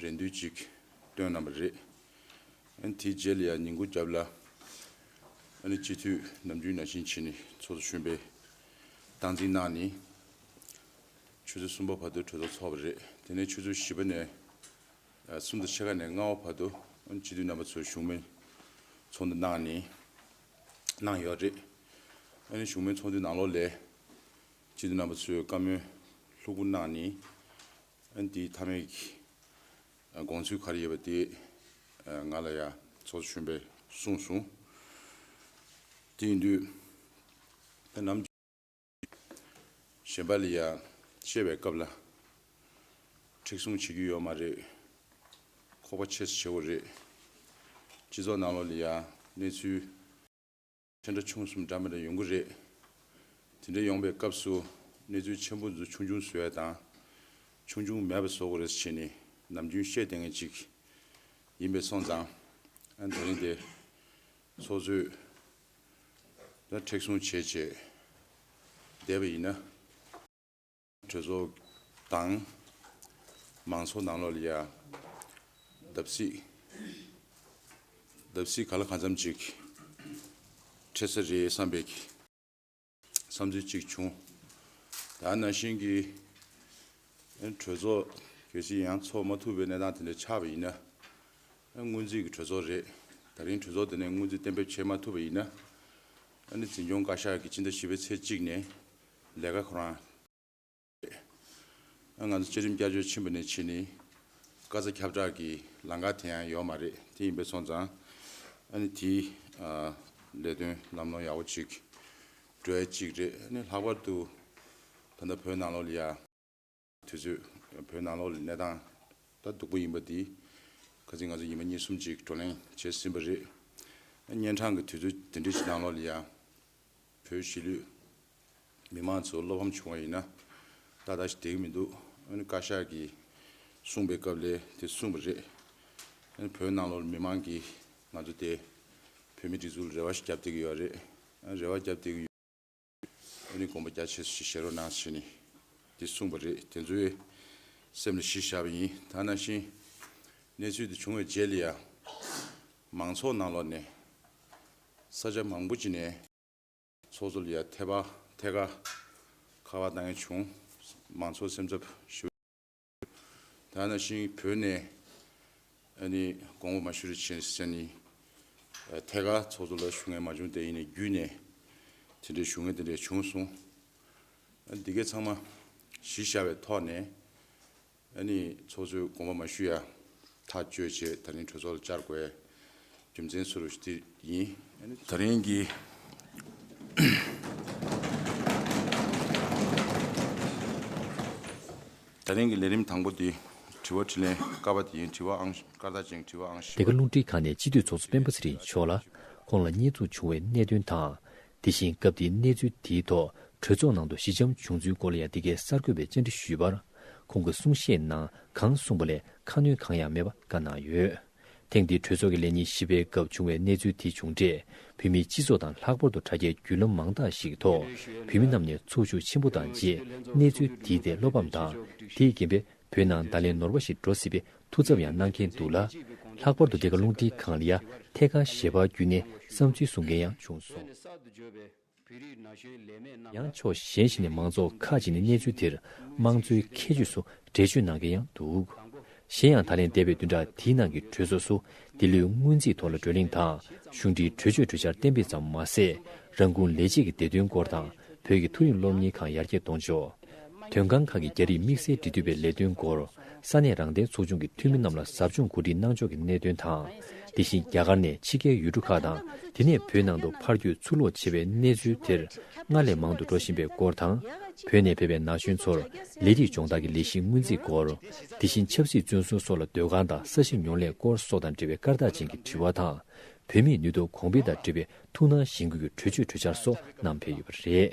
རེ་འདུན་ཅིག་བཏོན་གནང་བ་རེད། དེའི་རྗེས་ལ་ཡང་ཉིན་གུང་རྒྱབ་ལ། སྤྱི་འཐུས་ནམ་རྒྱུན་ནང་བཞིན་ཕྱིན་ནས་ཚོགས་འདུ་གཞོན་པའི་སྟངས་འཛིན་གནང་ནས། ཆུ་ཚོད་གསུམ་པ་བར་དུ་གྲོས་ཚོགས་འཚོགས་པ་རེད། དེ་ནས་ཆུ་ཚོད་བཞི་པ་ནས་གསུམ་དང་ཕྱེད་ཀ་ནས་ལྔ་བ་བར་དུ་སྤྱི་འཐུས་རྣམ་པ་ཚོས་བཞུགས་མོལ་ཚོགས་འདུ་གནང་ནས་གནང་ཡོད་རེད། གཞུང་མོལ་ཚོགས་འདུའི་ནང་ལོགས་ལས། ཅི་འདི་རྣམ་པ་ཚོའི་བཀའ་མོལ་ལྷུག་པོ་གནང་ནི། འདིའི་མཐའ་མའི་དགོངས་ཚུལ་ག་རེ་ཡོད་པ་དེ་ང་ལ་ཡང་ཚོགས་གཙོ་གཞོན་པས་གསུངས་སོང། དེ་ཡིན་དུས་ད་ནམ་གཞོན་པ་ལ་ཡང་བཤད་པའི་སྐབས་ལ་མཁྲེགས་བཟུང་བྱེད་རྒྱུ་ཡོད་མ་རེད། ཁོག་པ་ཆེ་ས་ཆེ་བོ་རེད། སྤྱི་ཚོགས་ནང་ལོགས་ལ་ཡང་གནས་ཚུལ། དེ་འདྲ་ཆུང་གསུམ་འདྲ་མི་འདྲ་ཡོང་གི་རེད། དེ་འདྲ་ཡོང་པའི་སྐབས་སུ་གནས་ཚུལ་ཆེན་པོ་འཛུགས་ཆུང་ཆུང་བཟོ་ཡ་དང། ཆུང་ཆུང་མེད་པ་བཟོ་དགོས་རེད་ཅེས་ནི་ནམ་རྒྱུན་བཤད་བསྡད་མཁན་ཅིག་ཡིན་པས་སོང་ཙང། ད་རིང་དེ་ཚོ་ཚོས་ད་མཁྲེགས་བཟུང་བྱས་བྱས་བསྡད་པ་ཡིན་ན། གྲོས་ཚོགས་དང། མང་ཚོགས་ནང་ལོགས་ལ་ཡ། བརྡབ་གསིག། བརྡབ་གསིག་ག་ལ་གང་འཚམ་ཅིག། འཕྲད་ས་རེད་བསམ་པའི། བསམ་ཚུལ་ཅིག་བྱུང། ད་ནང་བཞིན་གྱི། གྲོས་ཚོགས་གལ་སྲིད་ཡང་ཚོགས་མ་ཐུབ་པའི་གནས་སྟངས་དེ་འདྲ་ཆགས་པ་ཡིན་ན། སྔོན་རྩིས་ཀྱི་གྲོས་ཚོགས་རེད། ད་རིང་གྲོས་ཚོགས་དེ་ནས་སྔོན་རྩིས་གཏན་འབེབས་བྱེད་མ་ཐུབ་པ་ཡིན་ན། ཨ་ནི་འཛིན་སྐྱོང་བཀའ་ཤག་གིས་སྤྱི་ཟླ་བཞི་པའི་ཚེས་གཅིག་ནས། ལས་ཀ་ཁོ་རང་རེད། ང་ཚོ་བཅའ་ཁྲིམས་བསྐྱར་བཅོས་ཕྱིན་པ་ནས་ཕྱིས་ནི། བཀའ་རྩ་ཁྱབ་བསྒྲགས་ཀྱི་ལང་ཀ་དེ་ཡང་ཡོད་མ་རེད་དེ་ཡིན་པས་སོང་ཙང། ཨ་ནི་དེའི་ལས་དོན་ལམ་ལྷོང་ཡག་པོ་ཅིག་འགྲོ་ཡ་གཅིག་རེད་ཨ་ནི་ལྷག་པར་དུ། ད་ལྟ་བོད་ནང་ལོགས་ལ་ཡ། དུས་ཚོད་བོད་ནང་ལོག་ལས་གནས་སྟངས་ད་སྡུག་པོ་ཡིན་པ་འདི་ག་ཚེ་ང་ཚོ་ཉིན་མ་གཉིས་གསུམ་ཅིག་བགྲོ་གླེང་བྱེད་སྲིད་པ་རེད། གཉན་འཕྲང་གི་དུས་ཚོད་དེ་འདྲའི་ཞིག་ནང་ལོག་ལས་ཡ་བོད་གཞིས་ལུས་མི་དམངས་ཚོ་བློ་ཕམ་བྱུང་བ་ཡིན་ན་ཏག་ཏག་ཞིག་དེ་གི་མི་འདུག་ཨ་ནི་བཀའ་ཤག་གིས་གསུངས་པའི་སྐབས་ལས་དེ་གསུངས་པ་རེད། ཨ་ནི་བོད་ནང་ལོག་ལས་མི་དམངས་ཀྱིས་ང་ཚོ་དེ་བོད་མི་སྒྲིག་འཛུགས་ལ་རེ་བ་ཞིག་བརྒྱབ་བསྡད་ཀྱི་ཡོད་རེད། ཨ་རེ་བ་བརྒྱབ་བསྡད་ཀྱི་ཡོད། འོ་ནི་དགོངས་པ་རྒྱ་ཆེ་ཞེས་བཤད་རོགས་གནང་ཞེས་ནི་དེ་གསུངས་པ་རེད་དེ་ཚོའི་སེམས་ལ་གཞི་བཞག་པ་ཡིན་ད་ནང་བཞིན་གནས་ཚུལ་དེ་བྱུང་བའི་རྗེས་ལ་ཡང་མང་ཚོགས་ནང་ལོགས་ནས་ས་ཆ་མང་པོ་ཅིག་ནས་ཚོགས་གཙོ་ལ་ཡང་ཐད་ཀ་ཁ་བ་བཏང་ཡོད་བྱུང་མང་ཚོགས་སེམས་འཚབ་ཞུ། ཐ་ན་ཤིང་བོད་ནས་གོང་འོག་མ་ཤུ་རི་ཆེན་སི་ཅན་ནི་ཐད་ཀར་ཚོགས་གཙོ་ལ་ཞུ་ངེས་མ་བྱུང་དེ་ཡིན་ནས་བརྒྱུད་ནས་དེ་འདྲའི་ཞུ་ངེས་དེ་འདྲ་བྱུང་སོང། འདི་གའི་ཚང་མ་གཞི་བཞག་པའི་ཐོག་ནས་ཚོགས་གཙོའི་དགོངས་པ་མ་ཞུ་ཡ། ཐག་གཅོད་ཆེད་ད་རིང་གྲོས་ཚོགས་ལ་བཅར་དགོས། རྒྱུ་མཚན་སུ་རུ་དེ་ཡིན། ད་རིང་གི་ད་རིང་གི་ལས་རིམ་དང་པོ་དེ་དྲི་བ་དྲི་ལན་བསྐར་བ་དེ་ཡིན་དྲི་བའང་བསྐར་ད་ཅིང་དྲི་བའང་ཞི་བ་དེ་ག་རླུང་འཕྲིན་ཁང་ནས་སྤྱི་འཐུས་ཚོགས་གཙོ་སྤེན་པ་ཚེ་རིང་མཆོག་ལ་ཁོང་ལ་བརྙས་བཙུགས་བྱུང་བའི་གནད་དོན་དང། དེ་བཞིན་སྐབས་དེའི་གནས་ཚུལ་དེའི་ཐོག་གྲོས་ཚོགས་ནང་དུ་ཞི་འཇམ་བྱུང་ཚུལ་སྐོར་ལ་ཡང་འདི་གའི་གསར་འགོད་པས་བཅར་འདྲི་ཞུས་པར། ཁོང་གི་གསུང་བཤད་ནང་གང་གསུངས་པ་ལས་ཁ་སྣོན་གང་ཡང་མེད་པ་བཀའ་གནང་ཡོད། ཐེངས་འདིའི་གྲོས་ཚོགས་ཀྱི་ལས་ཉིན་བཞི་པའི་སྐབས་བྱུང་བའི་གནས་ཚུལ་དེ་བྱུང་འབྲས་བོད་མིའི་སྤྱི་ཚོགས་དང་ལྷག་པར་དུ་དྲ་རྒྱའི་བརྒྱུད་ལམ་མང་དག་ཞིག་གི་ཐོག་བོད་མི་རྣམས་ནས་ཚོར་ཤུགས་ཆེན་པོ་དང་རྗེས་གནས་ཚུལ་དེའི་ཐད་བློ་ཕམ་དང་དེས་རྐྱེན་པས་བོད་ནང་བརྡ་ལན་ནོར་བ་ཞིག་འགྲོ་སྲིད་པའི་ཐུགས་འཚབ་ཡང་གནང་མཁན་འདུག་ལ། ལྷག་པར་དུ་འདི་ག་རླུང་འཕྲིན་ཁང་ལ་ཡ་ཐེ་ཁ་ཞེས་པ་བརྒྱུད་ནས་བསམ་ཚུལ་གསུང་མཁན་ཡང་བྱུང་སོང། ཡང་ཕྱོགས་གཞན་ཞིག་ནས་མང་ཚོགས་ཁ་ཅིག་ནས་གནས་ཚུལ་འདིར་དམངས་གཙོའི་ཁྱད་ཆོས་སུ་འགྲེལ་བརྗོད་གནང་མཁན་ཡང་འདུག། གཞན་ཡང་ད་ལན་འདས་པའི་བདུན་ཕྲག་དེའི་ནང་གི་གྲོས་ཚོགས་སུ་འདི་ལོའི་སྔོན་རྩིས་ཐོག་ལ་བགྲོ་གླེང་དང་གཞུང་འབྲེལ་གྲོས་ཆོད་གྲོས་འཆར་གཏན་འབེབས་ཙམ་མ་ཟད། རང་ཁུངས་ལས་རྗེས་ཀྱི་བདེ་དོན་སྐོར་དང་བོད་ཀྱི་ཐུན་རིང་སློབ་གཉེར་ཁང་ཡར་རྒྱས་གཏོང་ཕྱོགས། དོན་ཁང་ཁག་གི་རྒྱ་རིགས་དམིགས་བསལ་འབྲེལ་མཐུད་པའི་ལས་དོན་སྐོར། ས་གནས་རང་བདེན་ཚོགས་ཆུང་གི་འཐུས་མི་རྣམས་ལ་ཟབ་སྦྱོང་གོ་སྒྲིག་གནང་ཕྱོགས་ཀྱི་གནད་དོན་དང། དེ་བཞིན་རྒྱ་གར་ནས་ཕྱི་རྒྱལ་ཡུལ་གྲུ་ཁག་དང་དེ་ནས་བོད་ནང་དུ་ཕར་བསྐྱོད་ཚུར་ལོག་བྱེད་པའི་གནས་ཚུལ་དེར་སྔར་ལས་མང་དུ་འགྲོ་བཞིན་པའི་སྐོར་དང། བོད་ནས་ཕེབས་པའི་ན་གཞོན་ཚོར་ལས་རིགས་སྦྱོང་བརྡར་གྱི་ལས་གཞི་སྔོན་རྩིས་སྐོར། དེ་བཞིན་ཆབ་སྲིད་བཙོན་སྲུང་སོགས་ལ་སྡོད་ཁང་དང་ས་ཞིང་ཉོ་སླད་སྐོར་སོགས་དང་འབྲེལ་བའི་སྐར་རྟགས་ཅན་གྱི་དྲི་བ་དང། བུད་མེད་ནུས་སྟོབས་གོང་འཕེལ་དང་འབྲེལ་བའི་ཐུགས་སྣང་གཞེན་སྐུལ་གྱི་གྲོས་ཆོད་གྲོས་འཆར་སོགས་བསྣམས་ཕེབས་ཡོད་པ་རེད།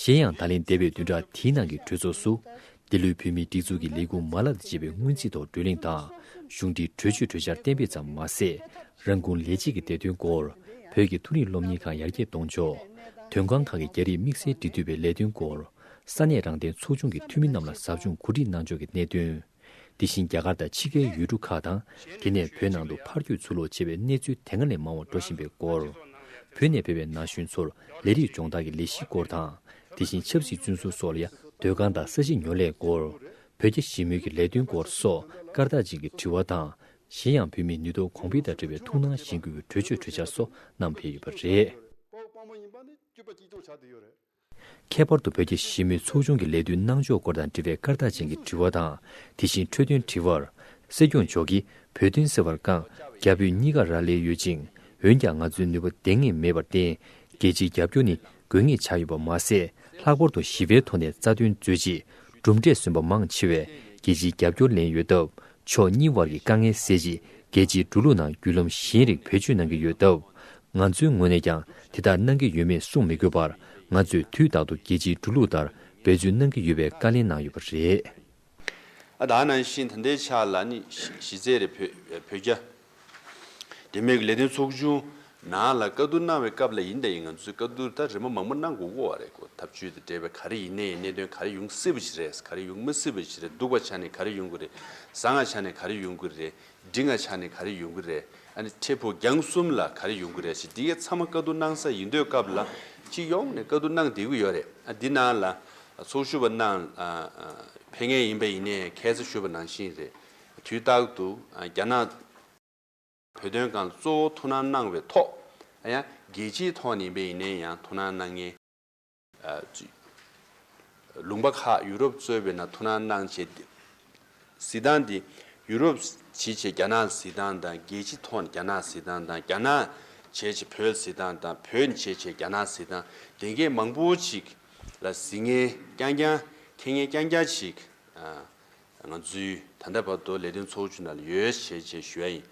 གཞན་ཡང་ད་ལན་འདས་པའི་བདུན་ཕྲག་དེའི་ནང་གི་གྲོས་ཚོགས་སུ། འདི་ལོའི་བོད་མིའི་སྒྲིག་འཛུགས་ཀྱི་ལས་ཁུངས་མ་ལག་འདི་བྱེད་པའི་སྔོན་རྩིས་ཐོག་བགྲོས་གླེང་དང། གཞུང་འབྲེལ་གྲོས་ཆོད་གྲོས་འཆར་གཏན་འབེབས་ཙམ་མ་ཟད། རང་ཁུངས་ལས་བྱེད་ཀྱི་བདེ་དོན་སྐོར། བོད་ཀྱི་ཐུན་རིན་སློབ་གཉེར་ཁང་ཡར་རྒྱས་གཏོང་ཕྱོགས། དོན་ཁང་ཁག་གི་རྒྱ་རིགས་དམིགས་བསལ་འབྲེལ་མཐུད་པའི་ལས་དོན་སྐོར། ས་གནས་རང་བདེན་ཚོགས་ཆུང་གི་འཐུས་མི་རྣམས་ལ་ཟབ་སྦྱོང་གོ་སྒྲིག་གནང་ཕྱོགས་ཀྱི་གནད་དོན། དེ་བཞིན་རྒྱ་གར་དང་ཕྱི་རྒྱལ་ཡུལ་གྲུ་ཁག་དང་དེ་ནས་བོད་ནང་དུ་ཕར་སྐྱོད་ཚུར་ལོག་བྱེད་པའི་གནས་ཚུལ་དེ་སྔ་ལས་མང་བ་འགྲོ་བཞིན་པའི་སྐོར། བོད་ནས་ཕེབས་པའི་ན་གཞོན་ཚོར་ལས་རིགས་སྦྱོང་བརྡར་གྱི་ལས་གཞིའི་སྐོར་དང། དེ་བཞིན་ཆབ་སྲིད་བཙོན་ཟུར་སོགས་ལ་ཡང་སྡོད་ཁང་དང་ས་གཞི་ཉོ་སླའི་སྐོར། བོད་རྒྱ་ཞི་མོལ་གྱི་ལས་དོན་སྐོར་སོགས་སྐར་རྟགས་ཅན་གྱི་དྲི་བ་དང། གཞན་ཡང་བོད་མིའི་ནུས་སྟོབས་གོང་འཕེལ་དང་འབྲེལ་བའི་ཐུགས་སྣང་གཞེན་སྐུལ་གྱི་གྲོས་ཆོད་གྲོས་འཆར་སོགས་བསྣམས་ཕེབས་ཡོད་པ་རེད། ཁྱད་པར་དུ་བོད་ཀྱི་ཞི་མོལ་ཚོགས་ཆུང་གི་ལས་དོན་གནང་ཕྱོགས་སྐོར་དང་འབྲེལ་བའི་སྐར་རྟགས་ཅན་གྱི་དྲི་བ་དང་དེ་བཞིན་འཕྲོས་དོན་དྲི་བར། སྲིད་སྐྱོང་མཆོག་གིས་བོད་དོན་སེལ་བར་རྐང་རྒྱ་བོད་གཉིས་ཀར་རག་ལས་ཡོད་ཅིང་འོན་ཀྱང་ང་ཚོའི་ནུས་པ་འདེང་ངེས་མེད་པར་བརྟེན། རྒྱལ་སྤྱིའི་རྒྱབ་སྐྱོར་ནི་དགོས་ངེས་ཆགས་ཡོད་པ་མ་ཟད་ལྷག་པར་དུ་ཞི་བའི་ཐོག་ནས་རྩ་དོན་མཛོད་ཅིག་གྲུབ་འབྲས་སོན་པ་མང་ཆེ་བས་རྒྱལ་སྤྱིའི་རྒྱབ་སྐྱོར་ལེན་ཡོད་སྟབས་ཕྱོགས་གཉིས་དབར་གྱི་དཀའ་ངལ་སེལ་ཆེད་རྒྱལ་སྤྱིའི་འགྲོ་ལུགས་ནང་བརྒྱུད་ལམ་གཞན་རིགས་བེད་སྤྱོད་གནང་གི་ཡོད་སྟབས། ང་ཚོའི་ངོས་ནས་ཀྱང་དེ་དག་གནང་གི་ཡོད་མེད་གསུངས་མི་དགོས་པར་ང་ཚོས་དུས་རྟག་ཏུ་རྒྱལ་སྤྱིའི་འགྲོ་ལུགས་ལྟར་འབད་བརྩོན་གནང་གི་ཡོད་པའི་བཀའ་ལན་གནང་ཡོད་པ་རེད། ཨ་དང་ཨ་ནང་བཞིན་ད་ལྟའི་ཆར་ལ་ནི་གཞི་རྩའི་རེ་བོད་རྒྱ། དེ་མིན་གྱི་ལས་དོན་ཚོགས་ཆུང་ནང་ལ་བཀའ་བསྡུར་གནང་བའི་སྐབས་ལ་ཡིན་ད་ཡིན་ང་ཚོས་བཀའ་བསྡུར་ད་རེ་མ་མང་པོ་གནང་དགོས་དགོས་བ་རེད་གོ་ཐབས་བྱུས་དང་འབྲེལ་བའི་ག་རེ་ཡིན་ནའི་གནད་དོན་ག་རེ་ཡོང་སྲིད་པ་ཞིག་རེད་ག་རེ་ཡོང་མི་སྲིད་པ་ཞིག་རེད་སྡུག་པ་ཆགས་ནས་ག་རེ་ཡོང་གི་རེད་བཟང་ང་ཆགས་ནས་ག་རེ་ཡོང་གི་རེད་འགྲིག་ང་ཆགས་ནས་ག་རེ་ཡོང་གི་རེད་ཨ་ནི་ཁྲེས་ཕུ་རྒྱང་གསུམ་ལ་ག་རེ་ཡོང་གི་རེད་ཞེས་འདི་གས་ཚང་མ་བཀའ་བསྡུར་གནང་ས་ཡིན་འདོད་སྐབས་ལ་སྤྱི་ཡོངས་ནས་བཀའ་བསྡུར་གནང་བསྡད་ཀྱི་ཡོད་རེད་ཨ་འདི་ནང་ལ་ཚོགས་ཞུགས་པ་རྣམས་ཕན་ངེས་ཡིན་པ་ཡིན་ནའི་ཁས་བླ་ཞུས་པ་ནང་བཞིན་རེད་དུས་རྟག་ཏུ་རྒྱ་ནག་བོད་དོན་སྒང་གཙོ་བོ་ཐུགས་སྣང་གནང་བའི་ཐོག་ཡང་རྒྱལ་སྤྱིའི་ཐོག་ནས་ཡིན་པས་ཡིན་ནའི་ཡང་ཐུགས་སྣང་གནང་ངེས། ལུང་པ་ཁག་ཡུ་རོབ་གཙོས་པའི་ནང་ཐུགས་སྣང་གནང་ཆེད་བསྡད། གཟི་ཐང་འདི་ཡུ་རོབ་བྱེད་ཆེད་རྒྱ་ནག་གཟི་ཐང་དང་རྒྱལ་སྤྱི་ཐོག་ནས་རྒྱ་ནག་གཟི་ཐང་དང་རྒྱ་ནག་བྱེད་ཆེད་བོད་གཟི་ཐང་དང་བོད་བྱེད་ཆེད་རྒྱ་ནག་གཟི་ཐང་དེ་འགས་མང་པོ་ཅིག་ལ་གཟི་ངན་རྐྱང་རྐྱང་ཁེ་ངན་རྐྱང་རྐྱང་ཅིག་ང་ཚོས་ད་ལྟ་བར་དུ་ལས་དོན་ཚོགས་ཆུང་ནང་ཡོད་བྱད་ཅེས་ཞུ་བ་ཡིན།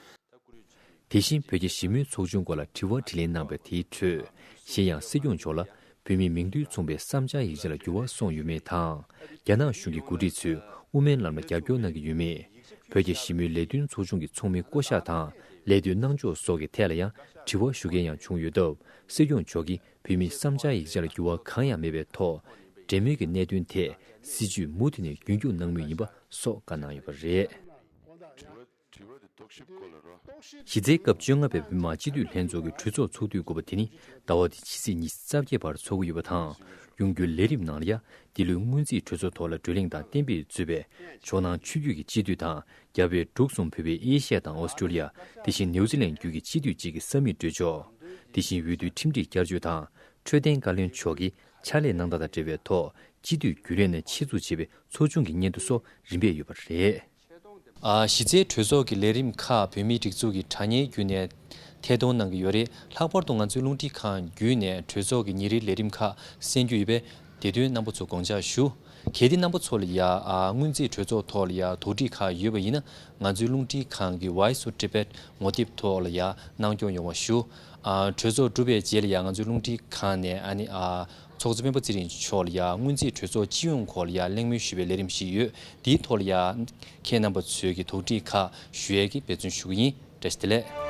དེ་བཞིན་བོད་རྒྱ་ཞི་མོལ་ཚོགས་ཆུང་སྐོར་ལ་དྲི་བ་དྲིས་ལན་གནང་པའི་དེའི་ཁྲོད། གཞན་ཡང་སྲིད་སྐྱོང་མཆོག་ལ་བོད་མིའི་མིང་རྡུལ་མཚུངས་པའི་བསམ་འཆར་ཡིག་ཆ་ལ་འགྱུར་བ་སོང་ཡོད་མེད་དང། རྒྱ་ནག་གཞུང་གི་འགོ་ཁྲིད་ཚོས་དབུ་མའི་ལམ་ལ་རྒྱབ་སྐྱོར་གནང་གི་ཡོད་མེད། བོད་རྒྱ་ཞི་མོལ་ལས་དོན་ཚོགས་ཆུང་གི་ཚོགས་མི་བསྐོ་གཞག་དང་ལས་དོན་གནང་ཕྱོགས་སོགས་ཀྱི་ཐད་ལ་ཡང་དྲི་བ་ཞུ་མཁན་ཡང་བྱུང་ཡོད་སྟབས་སྲིད་སྐྱོང་མཆོག་གིས་བོད་མི་བསམ་འཆར་ཡིག་ཆ་ལ་འགྱུར་བ་གང་ཡང་མེད་པའི་ཐོག་འབྲེལ་མོལ་གྱི་གནད་དོན་དེ་སྲིད་ཇུས་མུ་མཐུད་ནས་རྒྱུན་སྐྱོང་གནང་མུས་ཡིན་པ་སོགས་བཀའ་གནང་ཡོད་པ་རེད། གཞི་རྩའི་སྐབས་བཅོ་ལྔ་པའི་བོད་མང་སྤྱི་འཐུས་ལྷན་ཚོགས་ཀྱི་གྲོས་ཚོགས་ཚོགས་དུས་དགུ་པ་དེ་ནི་ཟླ་བ་འདིའི་ཕྱི་ཚེས་ཉི་ཤུ་རྩ་བརྒྱད་བར་ཚོགས་ཀྱི་ཡོད་པ་དང་གཡུང་རྒྱུན་ལས་རིམ་ནང་ལ་ཡ་འདི་ལོའི་སྔོན་རྩིས་གྲོས་ཚོགས་ཐོག་ལ་བགྲོས་གླེང་དང་གཏན་འབེབས་མཛོད་པའི་ཕྱོགས་ནང་ཆོས་བརྒྱུད་ཀྱི་སྤྱི་འཐུས་དང་རྒྱ་བལ་འབྲུག་གསུམ་བོད་པའི་ཨེ་ཤ་ཡ་དང་ཨོ་སི་ཀྲོ་ལི་ཡ་དེ་བཞིན་ནེའུ་ཙི་ལན་བརྒྱུད་ཀྱི་སྤྱི་འཐུས་གཅིག་གི་ས་མིག་འགྲོལ་ཆོག་དེ་བཞིན་འོས་བསྡུའི་ཁྲིམས་སྒྲིག་བསྐྱར་བཅོས་དང་འཕྲོད་བསྟེན་བཀའ་བློན་མཆོག་གིས་ཕྱག་ལས་གནང་སྟངས་དང་འབྲེལ་བའི་ཐོག་སྤྱི་འཐུས་རྒྱུན་ལས་ནས་ཆེད་འཛུགས་བྱས་པའི་ཚོགས་ཆུང་གི་སྙན་ཐོ་སོགས་རིམ་པས་ཡོད་པ་རེད། གཞི་རྩའི་གྲོས་ཚོགས་ཀྱི་ལས་རིམ་ཁག་བོད་མིའི་སྒྲིག་འཛུགས་ཀྱི་དྲ་བརྙན་བརྒྱུད་ནས་ཐད་གཏོང་གནང་གི་ཡོད་རེད་ལྷག་པར་དུ་ང་ཚོའི་རླུང་འཕྲིན་ཁང་བརྒྱུད་ནས་གྲོས་ཚོགས་ཀྱི་ཉིན་རེའི་ལས་རིམ་ཁག་གསན་རྒྱུ་ཡོད་པས་དེ་དོན་རྣམ་པ་ཚོ་དགོངས་འཇགས་ཞུ། གལ་ཏེ་རྣམ་པ་ཚོ་ལ་ཡང་སྔོན་རྩིས་གྲོས་ཚོགས་ཐོག་ལ་ཡང་དོགས་འདྲི་ཁག་ཡོད་པ་ཡིན་ན་ང་ཚོའི་རླུང་འཕྲིན་ཁང་གི Voice of Tibet ངོ་དེབ་ཐོག་ལ་ཡང་གནང་སྐྱོང་ཡོང་བ་ཞུ། གྲོས་ཚོགས་གྲུབ་པའི་རྗེས་ལ་ཡང་ང་ཚོའི་རླུང་འཕྲིན་ཁང་ནས་ཚོགས་གཙོ་སྤེན་པ་ཚེ་རིང་མཆོག་ལ་ཡང་སྔོན་རྩིས་གྲོས་ཚོགས་སྤྱི་ཡོངས་ཁོག་ལ་ཡང་གླེང་མོལ་ཞུ་བའི་ལས་རིམ་ཞིག་ཡོད་དེའི་ཐོག་ལ་ཡང་ཁྱེད་རྣམ་པ་ཚོས་ཀྱི་དོགས་འདྲི་ཁག་ཞུ་ཡས་ཀྱི་འབད་བརྩོན་ཞུ་གི་ཡིན། བཀྲ་ཤིས་བདེ་ལེགས།